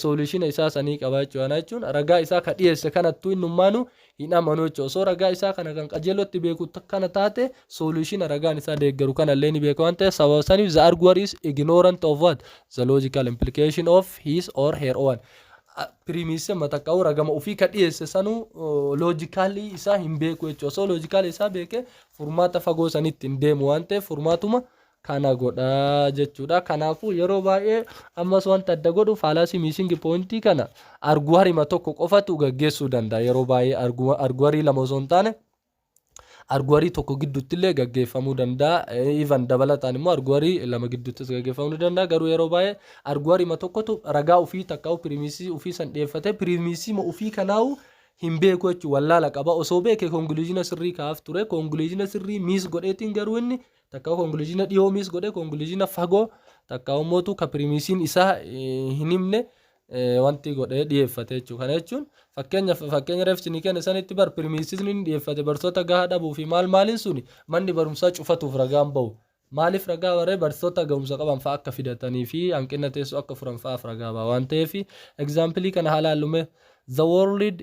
A: soolishina isaa sanii qabaa jechuudha jechuun ragaa isaa ka dhiyeesse kanattuu innummaanuu hin amanu jechuudha. Osoo ragaa isaa kana kan qajeelootti beeku kana taate solution ragaan isaa deeggaru kana illee ni beeka waan ta'eef sababa saniif the arguer is ignorant of what the logical implication of his or her own piriimiisii mataqqa'uu ragama ofii ka dhiyeesse sanuu loojikaalii isaa hin beeku jechuudha. Osoo loojikaalii isaa beeke furmaata fagoo sanitti hin deemu waan ta'eef furmaatuma kana godha jechuudha. Kanaafuu yeroo baay'ee ammas wanta adda godhu faalaasii miisingi poointii kana arguwarima tokko qofatu gaggeessuu danda'a. Yeroo baay'ee arguwarii lama osoo hin taane arguwarii tokko gidduutti illee gaggeeffamuu danda'a. Even dabalataan immoo arguwarii lama gidduuttis gaggeeffamuu ni danda'a. Garuu yeroo baay'ee arguwarima tokkotu ragaa ofii takkaa'u piriimiisii ofii san dhiyeeffatee piriimiisiima ofii kanaa'u hin beeku jechuun wallaala qaba. Osoo beeke konkuluuzina sirrii kaa'af ture. Konkuluuzina sirrii miis godheetiin garuu inni Takkaa'u konkuluuziina dhiyoo miis godhe konkuluuziina fagoo takkaa'u mootu ka piriimiisiin isaa hin himne wanti godhee dhiyeeffate jechuudha. Kana jechuun fakkeenya fakkeenya reefsi ni kenne sanitti bar piriimiisiisni ni dhiyeeffate barsoota gahaa dhabuu fi maal maaliin suni manni barumsaa cufatuuf ragaan bahu. Maaliif ragaa baree barsoota gahumsa qaban fa'a akka fidatanii fi hanqina teessoo akka furan fa'aaf ragaa baha waan ta'eef egzaampilii kana haa laallume. The world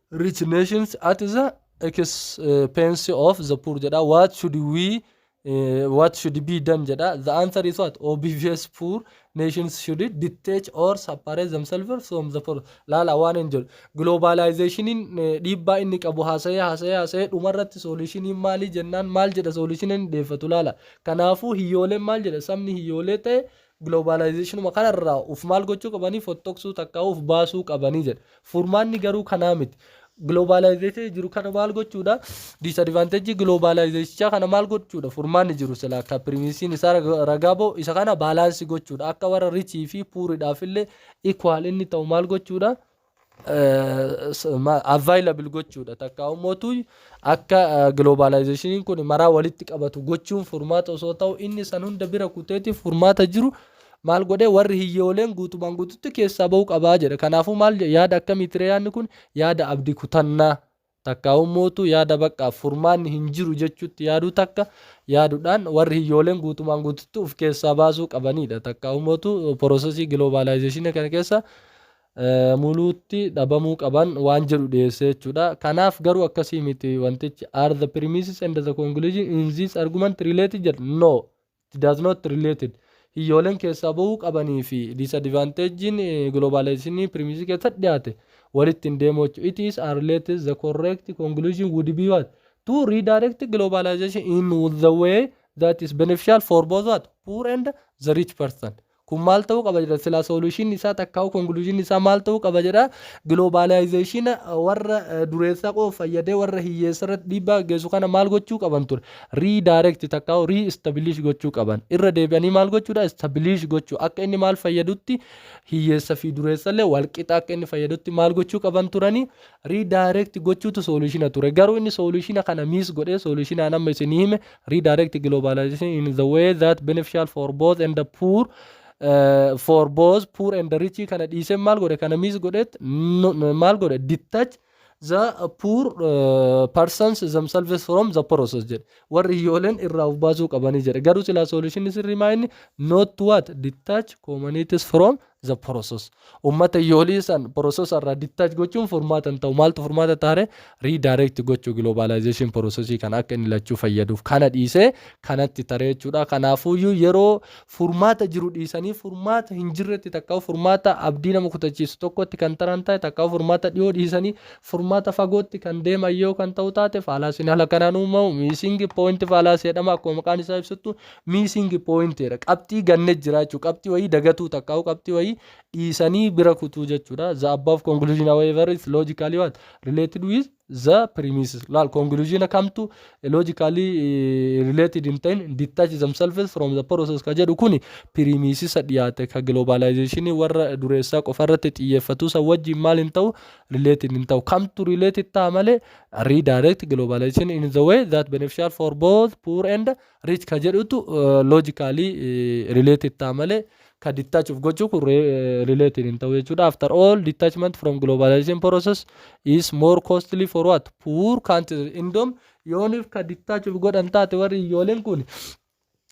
A: rich nations at the expense of the poor jedha what should we eh, what should be done jedha the answer is what obvious poor nations should detach or separate themselves from the poor laala waan hin jedhu globalizationin eh, dhiibbaa inni qabu haasa'ee haasa'ee haasa'ee dhumarratti soolishiniin maalii jennaan maal jedha soolishiniin deeffatu laala kanaafuu hiyyooleen maal jedha sabni hiyyoolee ta'e Globalizationuma kana irraa uf maal gochuu qabanii fottoqsuu takkaa uf baasuu qabanii jedha. Furmaanni garuu kanaa miti. Globalization jiru kana maal gochuudha? Disadvantage globalizationichaa kana maal gochuudha? Furmaanni jiru silaa akka pirimiisiin isaa raga- ragaa ba'u isa kana baalaansi gochuudha. Akka warra richii fi puuridhaaf illee equal inni ta'u maal gochuudha? available gochuudha takka ummootu akka globalizationiin kun maraa walitti qabatu gochuun furmaata osoo ta'u inni san hunda bira kuteeti furmaata jiru maal godhee warri hiyyooleen guutumaan guututti keessaa ba'uu qabaa jedha kanaafuu maal yaada akkamiitire yaadni kun yaada abdi kutannaa Takkaahummootu yaada baqqaa furmaanni hin jiru jechuutti yaaduu takka yaadudhaan warri hiyyooleen guutumaan guututti uf keessaa baasuu qabaniidha. Takkaahummootu porosesii giloobaalaayizeeshinii kana keessa muluutti dhabamuu qaban waan jedhu dhiyeessee jechuudha. Kanaaf garuu akkasii miti wantichi are the premises and the conclusion in this argument related jedha no It does not related Hiyyooleen keessaa bahuu qabanii fi disadvantage'n globalization premise keessatti dhiyaate walitti hin deemu jechuudha. It is unrelated the correct conclusion would be what? To redirect globalization in the way that is beneficial for both what? Poor and the rich person. Kun maal ta'uu qaba jedha silaa solution isaa takkaa'uu conclusion isaa maal ta'uu qaba jedha globalization warra dureessaa qofa fayyadee warra hiyyeessa irratti dhiibbaa gaggeessu kana maal gochuu qaban ture redirect takkaa'uu re-establish gochuu qaban irra deebi'anii maal gochuudha establish gochuu akka inni maal fayyadutti hiyyeessa fi dureessallee walqixa akka inni fayyadutti maal gochuu qaban turanii redirect gochuutu solution ture garuu inni solution kana miss godhee solution an amma isinii hime redirect globalization in the way that beneficial for both and the poor uh, for both poor and the rich kana dhiisee maal godhe kana miss godheet no- no- maal godhe detach the poor uh, persons themselves from the process jedhe warri iyyooleen irraa of baasuu qabanii jedhe garuu silaa solution sirrii maa inni not to what detach communities from the process ummata yoolii san process irraa detach gochuun furmaata hin ta'u maaltu furmaata taare redirect gochuu globalization process kana akka inni lachuu fayyaduuf kana dhiisee kanatti taree jechuudha kanaafuuyyuu yeroo furmaata jiru dhiisanii furmaata hin jirretti takkaa furmaata abdii nama kutachiisu tokkotti kan taran ta'e takkaa furmaata dhiyoo dhiisanii furmaata fagootti kan deeman yoo kan ta'u taate faalaasiin haala kanaan uumamu miisingi poointi faalaasii jedhama akkuma maqaan isaa ibsuttu missing point jedha. Qabxii ganne jira jechuudha. Qabxii wayii dagatuu takkaa'u qabxii wayii dhiisanii bira kutuu jechuudha. The above conclusion however is logically what? Related with the premises. Laal conclusion kamtu logically eh, related hin ta'in detach themselves from the process ka jedhu kuni premises dhiyaate ka globalization warra dureessaa qofa irratti xiyyeeffatu san wajjin maal hin ta'u related hin ta'u. Kamtu related ta'a malee redirect globalization in the way that beneficial for both poor and Reach ka jedhutu logically related ta'a malee ka detach of gochuu kun related hin ta'u jechuudha. After all detachment from globalization process is more costly for what poor countries. Indom yooniif ka detach of godhan taate warri iyyooleen kun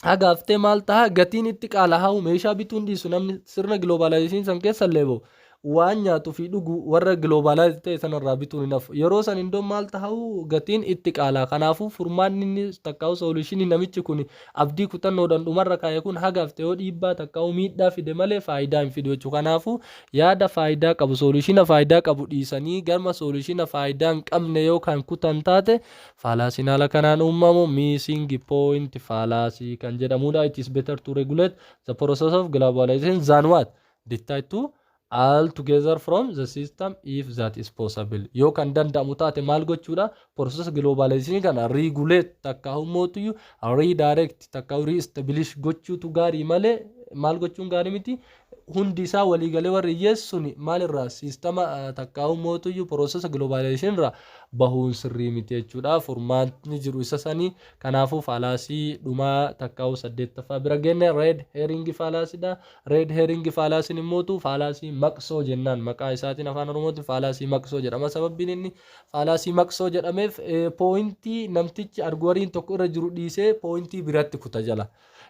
A: hagaaftee maal ta'a gatiin itti qaalaa'u meeshaa bituun dhiisu namni sirna globalization san keessa illee ba'u waan nyaatu fi dhugu warra globalized ta'e sana irraa bituun hin hafu. Yeroo san indoo maal tahau gatiin itti qaalaa. Kanaafuu furmaanni inni takkaawu solution namichi kun abdii kutannoodhan dhumarra kaa'e kun haga hafte yoo dhiibbaa takkaawu miidhaa fide malee faayidaa hin fidu jechuudha. Kanaafuu yaada faayidaa qabu solution faayidaa qabu dhiisanii garma solution faayidaa hin qabne yoo kan kutan taate faalaasiin haala kanaan uumamu missing point fallacy kan jedhamuudha. It is better to regulate the process of globalization than what? decide to all together from the system if that is possible yoo kan danda'amu taate maal gochuudha process globalization kana regulate takka hummootuyyu redirect takka reestablish gochuutu gaarii malee maal gochuun gaarii miti hundi isaa waliigalee warri hiyyeessi suni maalirraa siistama takka hummootuyyu process globalization irraa bahuun sirrii miti jechuudha furmaatni jiru isa sanii kanaafuu faalaasii dhumaa takkaa'u saddeettaffaa bira genne red herring faalaasiidha Red herring fallacy nin mo'tu, faalaasii maqsoo jennaan maqaa isaatiin afaan oromootiin faalaasii maqsoo jedhama sababbiin inni faalaasii maqsoo jedhameef pooyintii namtichi arguwariin tokko irra jiru dhiisee pooyintii biratti kuta jala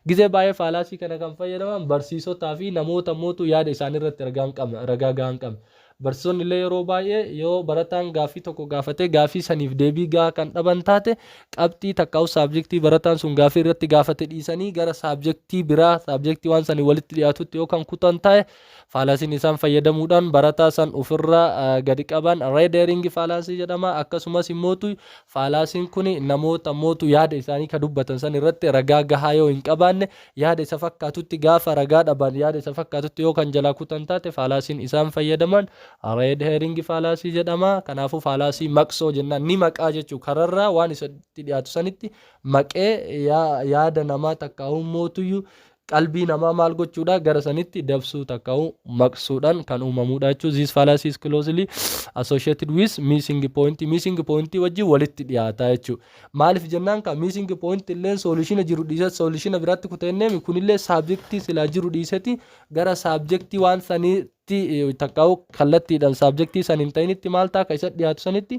A: gizee baay'ee faalaasii kana kan fayyadaman barsiisotaa fi namoota mootu yaada isaanii irratti ragaa gahaa hin qabne Barsiisonni illee yeroo baay'ee yoo barataan gaaffii tokko gaafatee gaaffii saniif deebii gahaa kan dhaban taate qabxii takkaa'uu saabjektii barataan sun gaaffii irratti gaafate dhiisanii gara saabjektii biraa saabjektii waan sanii walitti dhiyaatutti yoo kan kutan taa'e faalaasiin isaan fayyadamuudhaan barataa san ofirra gadi qaban reedeeringi faalaasii jedhama akkasumas immootu faalaasiin kun namoota mootu yaada isaanii ka dubbatan san irratti ragaa gahaa yoo hin qabaanne Yaada isa fakkaatutti gaafa ragaa dhaban yaada isa fakkaatutti yoo kan jalaa kutan taate faalaasiin isaan fayyadaman red herring faalaasii jedhama. Kanaafuu faalaasii maqsoo jennaan ni maqaa jechuu kararraa waan isatti dhiyaatu sanitti maqee yaada namaa takkaa'uu mootuyyu qalbii namaa maal gochuudha gara sanitti dabsuu takkaa'uu maqsuudhaan kan uumamuudha jechuudha. This fallacy is closely associated with missing point. Missing point wajjin walitti dhiyaataa jechuudha. Maalif jennaan kaa missing point illeen solution jiru dhiisat solution biraatti kuta jennemi kunillee subject silaa jiru dhiiseti gara subject waan sanitti takkaawu kallattiidhan subject san hin ta'initti maal ta'a ka isa dhiyaatu sanitti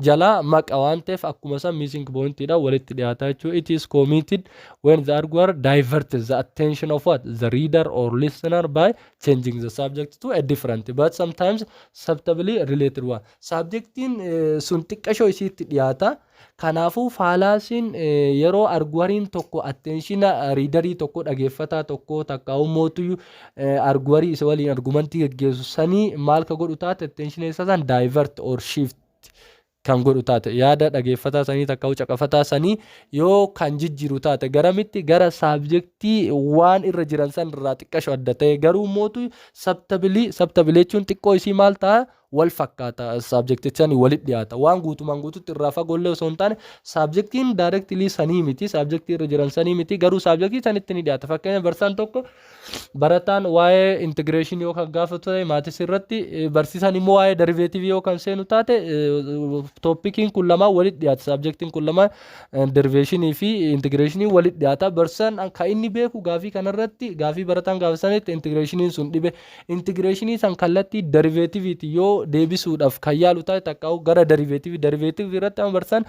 A: jalaa maqa waan ta'eef akkuma san missing point dha walitti dhiyaata jechuu it is committed when the arguer diverts the attention of what the reader or listener by changing the subject to a different but sometimes subtably related one Saabjektiin sun xiqqashoo isiitti dhiyaata. Kanaafuu faalaasiin yeroo arguwariin tokko attenshina riidarii tokko dhageeffataa tokko takka ummootuyyuu arguwarii isa waliin argumantii geggeessu sanii maal ka godhu taate attenshina isa san divert or shift kan godhu taate yaada dhageeffataa sanii takka u caqafataa sanii yoo kan jijjiiru taate garamitti gara saabjektii waan irra jiran san irraa xiqqasho adda ta'e garuu ummootu sabtabilii sabtabilii jechuun xiqqoo isii maal ta'a wal fakkaata saabjektichani walit dhiyaata waan guutumaan guututti irraa fagoollee osoo hin taane saabjektiin directly sanii miti saabjektii irra jiran sanii miti garuu saabjektii sanitti ni dhiyaata fakkeenya barsaan tokko barataan waa'ee integration yoo kan gaafatu ta'e maatis irratti eh, barsiisaan immoo waa'ee derivative yoo kan seenu taate tooppikiin kun lamaan walit dhiyaata saabjektiin kun lamaan eh, derivation fi integration walit dhiyaata barsaan kan inni beeku gaafii kanarratti gaafii barataan gaafasanitti integrationiin sun dhibe Intigireeshinii san kallattii dariveetiviitiin yoo deebisuudhaaf kan yaalu taate takkaa'uu gara dariveetivii dariveetivii irratti amma barsiisaan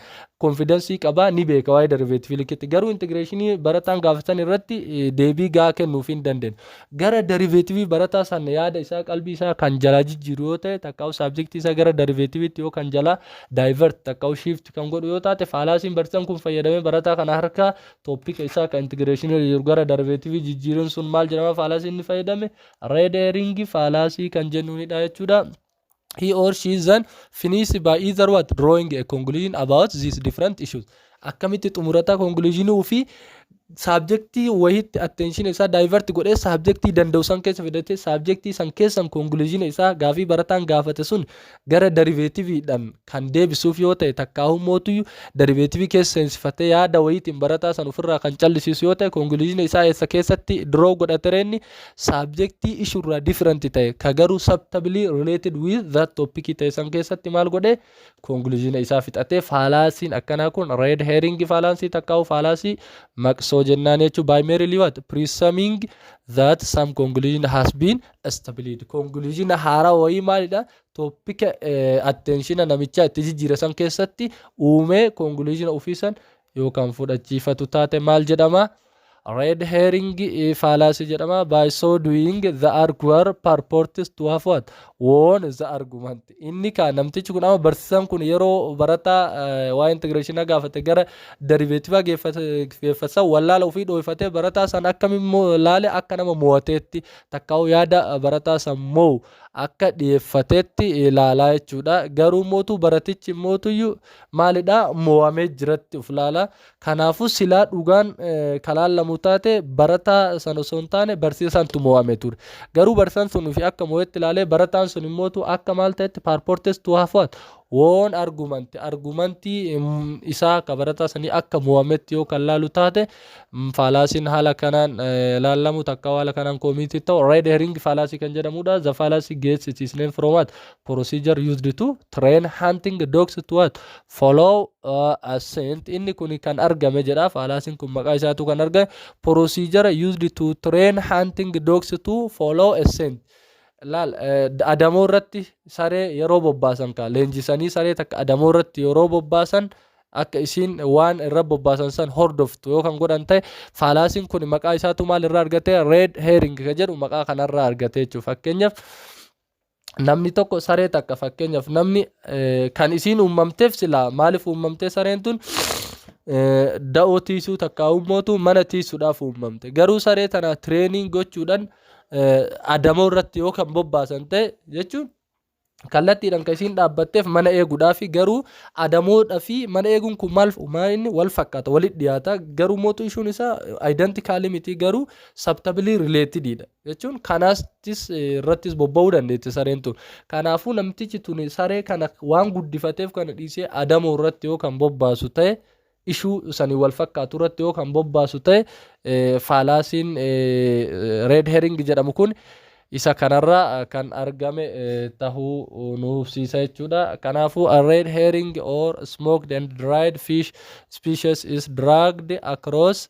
A: konfidansii qaba ni beeka waa'ee dariveetivii likkitti garuu intigireeshinii barataan gaafatan irratti eh, deebii gahaa kennuuf hin dandeenye gara dariveetivii barataa san yaada isaa qalbii isaa kan jalaa jijjiiru yoo ta'e takkaa'uu saabjektii isaa gara dariveetiviitti yoo kan jalaa daayivert takkaa'uu shiifti kan godhu yoo taate faalaasiin barsiisaan kun fayyadamee barataa kana harkaa topic isaa ka integration jiru gara derivative jijjiiruun sun maal jedhama faalaasii inni fayyadame red herring faalaasii kan jennuunidha jechuudha. He or she then finish by either what drawing a conclusion about these different issues. Akkamitti xumurata conclusion fi saabjektii wayitti attention isaa divert godhee saabjektii danda'u san keessa fidatee saabjektii san keessan conclusion isaa gaafii barataan gaafate sun gara dariveetiviidhaan kan deebisuuf yoo ta'e takkaahuu mootuyyuu dariveetivii keessa seensifatee yaada wayiitiin barataa san ofirraa kan callisiisu yoo ta'e konkuluuzina isaa eessa keessatti diroo godhatere inni saabjektii ishuurraa difiranti ta'e ka garuu sabtabilii related with that topic ta'e san keessatti maal godhe konkuluuzina isaa fixatee faalaasiin akkanaa kun red herring faalaasii takkaahuu faalaasii maqsoo jennaan jechuu by merely what presuming that some conclusion has been stability conclusion haaraa wayii maalidha toppika attenshina namichaa itti jijjiire san keessatti uumee conclusion ofii san yoo kan fudhachiifatu taate maal jedhama red herring fallacy jedhama by so doing the arguer purports to have what won the argument inni kaa namtichi kun ama barsiisan kun yeroo barataa waa integration gaafate gara derivative geeffatan wallaala ofii dhoofatee barataa san akkami laale akka nama mo'ateetti takkaa'uu yaada barataa san moo'u akka dhiyeeffateetti ilaalaa jechuudha. Garuu mootuu baratichi mootuyyu maalidha moo'amee jiratti of laala. Kanaafuu silaa dhugaan kan laallamu taate barataa san osoo hin taane barsiisaantu moo'ame ture. Garuu barsiisaan sun ofii akka moo'etti ilaalee barataan sun mootu akka maal ta'etti paarpoortees tu hafuwaat woon argumanti argumantii isaa akka barataa sanii akka moo'ametti yoo kan laalu taate Faalaasiin haala kanaan ilaallamu takka haala kanaan koomiitii ta'u red herring faalaasii kan jedhamudha. The fallacy gets its name from what? Procedure used to train hunting dogs to what? Follow uh, a scent. Inni kun kan argame jedha. Faalaasiin kun maqaa isaatu kan argame. Procedure used to train hunting dogs to follow a scent. laal adamoo irratti saree yeroo bobbaasan kaa leenjisanii saree takka adamoo irratti yeroo bobbaasan akka isiin waan irra bobbaasan san hordoftu yoo kan godhan ta'e faalaasiin kun maqaa isaatu maal irraa argate red herring kan jedhu maqaa kanarraa argate jechuudha fakkeenyaaf namni tokko saree takka fakkeenyaaf namni kan isiin uumamteef silaa maaliif uumamtee sareen tun da'oo tiisuu takka uumootu mana tiisuudhaaf uumamte garuu saree tana tireeniin gochuudhaan adamoo irratti yoo kan bobbaasan ta'e jechuun kallattiidhaan kan isiin dhaabbatteef mana eeguudhaafi garuu adamoodha fi mana eeguun kun maal inni wal fakkaata walitti dhiyaata garuu mootu ishuun isaa identical miti garuu subtably related dha jechuun kanaastis irrattis bobba'uu dandeetti sareen tun kanaafuu namtichi tun saree kana waan guddifateef kana dhiisee adamoo irratti yoo kan bobbaasu ta'e ishuu saniin wal fakkaatu irratti yoo kan bobbaasu ta'e faalaasiin red herring jedhamu kun isa kanarra kan argame tahuu nu hubsiisa jechuudha. Kanaafuu a red herring or smoked and dried fish species is dragged across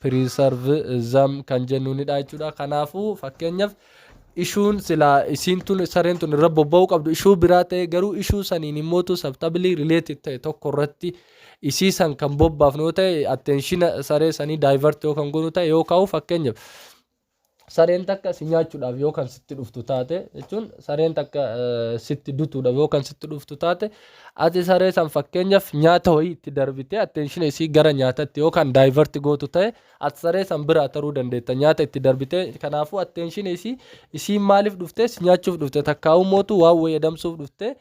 A: preservism kan jennuunidha jechuudha. Kanaafuu fakkeenyaaf ishuun silaa isiin tun sareen tun irra bobba'uu qabdu ishuu biraa ta'e garuu ishuu saniin immoo tu sabtabili related ta'e tokko irratti isii san kan bobbaafnu yoo ta'e attenshina saree sanii divert yoo kan goonu ta'e yoo kaa'u fakkeenyaaf sareen takka si nyaachuudhaaf yoo kan sitti dhuftu taate jechuun sareen takka eh, sitti dutuudhaaf yoo kan sitti dhuftu taate ati saree san fakkeenyaaf nyaata wayii itti darbitee attention isii gara nyaatatti yoo kan daayivarti gootu ta'e ati saree san biraa taruu dandeetta nyaata itti darbitee kanaafuu attention isii isiin maaliif dhuftee si nyaachuuf dhufte takkaa'uu mootu waan wayii adamsuuf dhuftee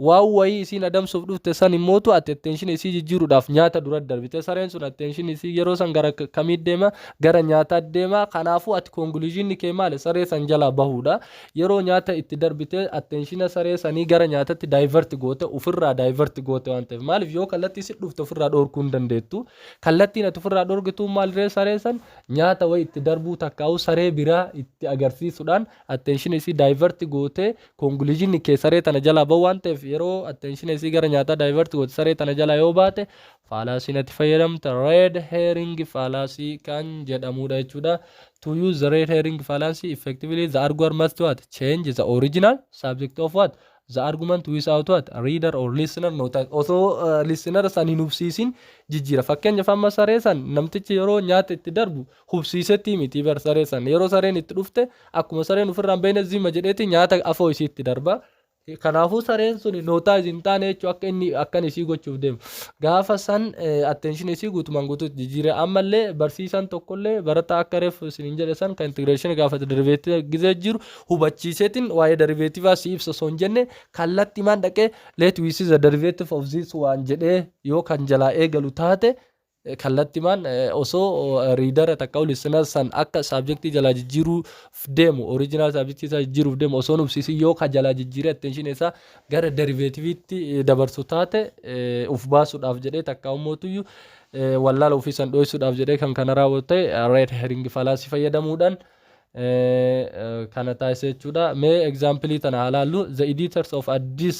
A: Waan wayii isiin adamsuuf dhufte san immootu ati attention isii jijjiiruudhaaf nyaata dura darbite. Sareen sun attention isii yeroo san gara kamii deema? Gara nyaataa deema. Kanaafuu ati conclusion kee maali? Saree san jalaa bahuudha. Yeroo nyaata itti darbite attentiona saree sanii gara nyaatatti divert goote, ufirraa divert goote waan ta'eef. Maaliif yoo kallattii sitti dhufte ofirraa dhoorkuu hin dandeettu. Kallattiin ati ofirraa dhoorgitu maaliree saree san nyaata wayii itti darbuu takkaa'uu saree biraa itti agarsiisuudhaan attention isii divert gootee conclusion kee saree tana jalaa ba'u waan ta'eef yeroo attention isii gara nyaataa divert goote saree tana jalaa yoo baate faalaasii natti fayyadamta red herring faalaasii kan jedhamudha jechuudha to use the red herring fallacy effectively the arguer must what change the original subject of what the argument without what reader or listener notice osoo uh, listener san hin hubsiisin jijjiira fakkeenyaaf amma saree san namtichi yeroo nyaata itti darbu hubsiisetii mitii bar saree san yeroo sareen itti dhufte akkuma sareen ofirraa hin beekne zima jedheeti nyaata afoo isiitti darba kanaafuu sareen sun nootaayiz hin taane jechuun akka inni akkan isii gochuuf deemu gaafa san attention isii guutumaan guutuutti jijjiire ammallee barsiisaan tokkollee barataa akka reef isin hin jedhe san kan integreeshinii gaafa deriveetii gizee jiru hubachiiseetiin waa'ee deriveetivaa si ibsa osoo hin jenne kallatti maan dhaqee let we see the derivative of this waan jedhee yoo kan jalaa eegalu taate kallattimaan osoo riidara takkau listener san akka saabjektii jalaa jijjiiruuf deemu original saabjektii isaa jijjiiruuf deemu osoo hin hubsiisin yoo ka jalaa jijjiiree attention isaa gara derivativeetti dabarsu taate uf baasuudhaaf jedhee takkaa ummootuyyu wallaala ofii san dhoysuudhaaf jedhee kan kana raawwatu ta'e red herring fallacy fayyadamuudhaan kana taasisa jechuudha mee example tana haa laallu the editors of addis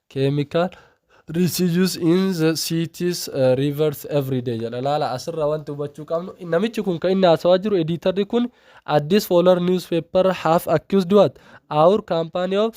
A: Chemical residues in the cities, uh, rivers every day jedha laala asirra wanti hubachuu qabnu namichi kun kan inni haasawaa jiru ediitarri kun addis foolar newspaper have accused what our company of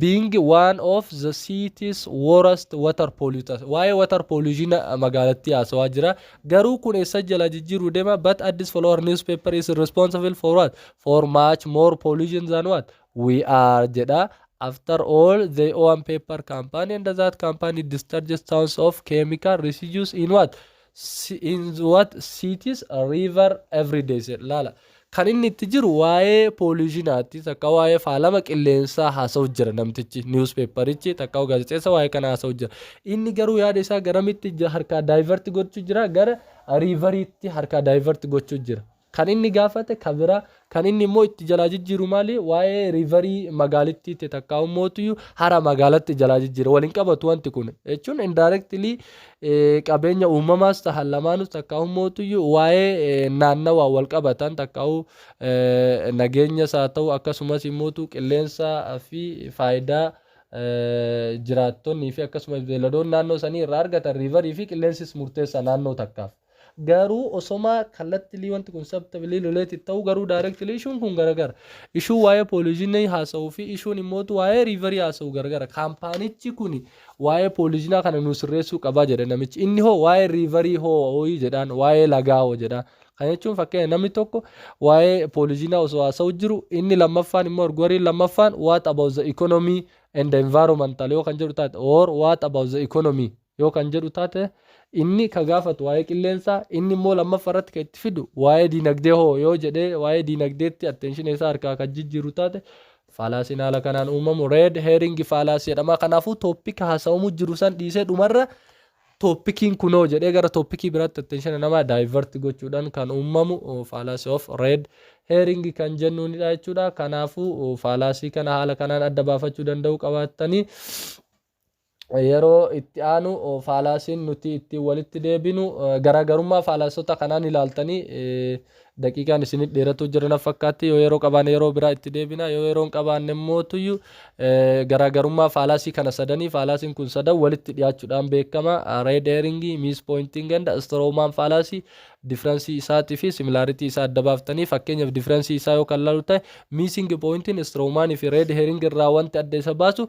A: being one of the cities worst water polluters waa'ee water pollution magaalattii haasawaa jira garuu kun eessa jala jijjiiruu deema but addis foolar newspaper is responsible for what for much more pollution than what We are jedha. After all, they own paper company and that company discharges tons of chemical residues in what? Si- in what cities, river every day jedha. Laala. Kan inni itti jiru waa'ee poolishinaatti takka waa'ee faalama qilleensaa haasa'u jira namtichi niwuspeeparichi takka gaazexeessa waa'ee kana haasa'u jira. Inni garuu yaada isaa garamitti ja- harkaa daayivarti gochuu jira gara riivariitti harkaa daayivarti gochuu jira. Kan inni gaafate ka bira. Kan inni immoo itti jalaa jijjiiru maali? Waa'ee riivarii magaalittiitti takkaa'uu mootuyyuu hara magaalatti jalaa jijjiira. Wal hin qabatu wanti kun. Jechuun indirectly qabeenya uumamaas tahan lamaanus takkaa'uu mootuyyuu waa'ee naannawaa wal qabatan takkaa'uu nageenyas haa ta'u akkasumas immootu qilleensa fi faayidaa jiraattonnii fi akkasumas beeladoon naannoo sanii irraa argatan riivarii fi qilleensis murteessa naannoo takkaaf. Garuu osomaa kallattilii wanti kun subtly related ta'uu garuu directly issue'n kun garagara. Issue waa'ee polygyny haasa'uu fi issue'n immootu waa'ee riverii haasa'u garagara. Kaampaanichi kuni waa'ee polygyny kana nuu sirreessuu qaba jedhe namichi. Inni hoo waa'ee riverii hoo'i jedhaan, waa'ee lagaa hoo jedhaan. Kana jechuun fakkeenya namni tokko waa'ee polygyny osoo haasa'u jiru inni lammaffaan immoo arguariin lammaffaan what about the economy and the environmental yoo kan jedhu taate or what about the economy yoo kan jedhu taate, inni ka gaafatu waa'ee qilleensaa, inni immoo lammaffa irratti ka itti fidu waa'ee diinagdee hoo yoo jedhee waa'ee diinagdeetti attention isaa harkaa kan jijjiiru taate, faalaasiin haala kanaan uumamu red herring fallacy jedhama. Kanaafuu topic haasa'amu jiru san dhiisee dhumarra topikiin kunoo jedhee gara topikii biraatti attention namaa divert gochuudhaan kan uumamu fallacy of red herring kan jennuunidha jechuudha. Kanaafuu faalaasii kana haala kanaan adda baafachuu danda'uu qabaattanii yeroo itti aanu faalaasiin nuti ittiin walitti deebinu garaagarummaa faalaasota kanaan ilaaltanii daqiiqaan isinit dheeratuu jira na fakkaatti yoo yeroo qabaanne yeroo biraa itti deebina yoo yeroon qabaanne mootuyyu garaagarummaa faalaasii kana sadanii faalaasiin kun sadan walitti dhiyaachuudhaan beekama reed eeringii miis pooyintiin ganda istiroomaan faalaasii difiransii isaatii fi similaaritii isaa adda baaftanii fakkeenyaaf difiransii isaa yoo kan laalu ta'e miising pooyintiin istiroomaanii fi reed heering irraa wanti adda isa baasu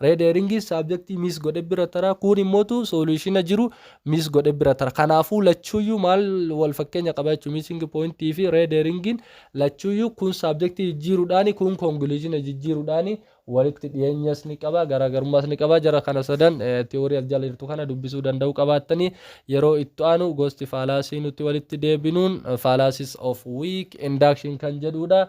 A: Red herring subject miss godhe bira tara kuun immotu solution jiru miss godhe bira tara kanaafuu lachuuyyuu maal wal fakkeenya qaba jechuun missing point fi red herring lachuuyyuu kun subject jijjiiruudhaani kun conclusion jijjiiruudhaani walitti dhiyeenyas ni qaba garaagarummaas ni qaba jara kana sadan theory as jala jirtu kana dubbisuu danda'uu qabaattanii yeroo itti aanu gosti faalaasii nuti walitti deebinuun fallacies of weak induction kan jedhuudha.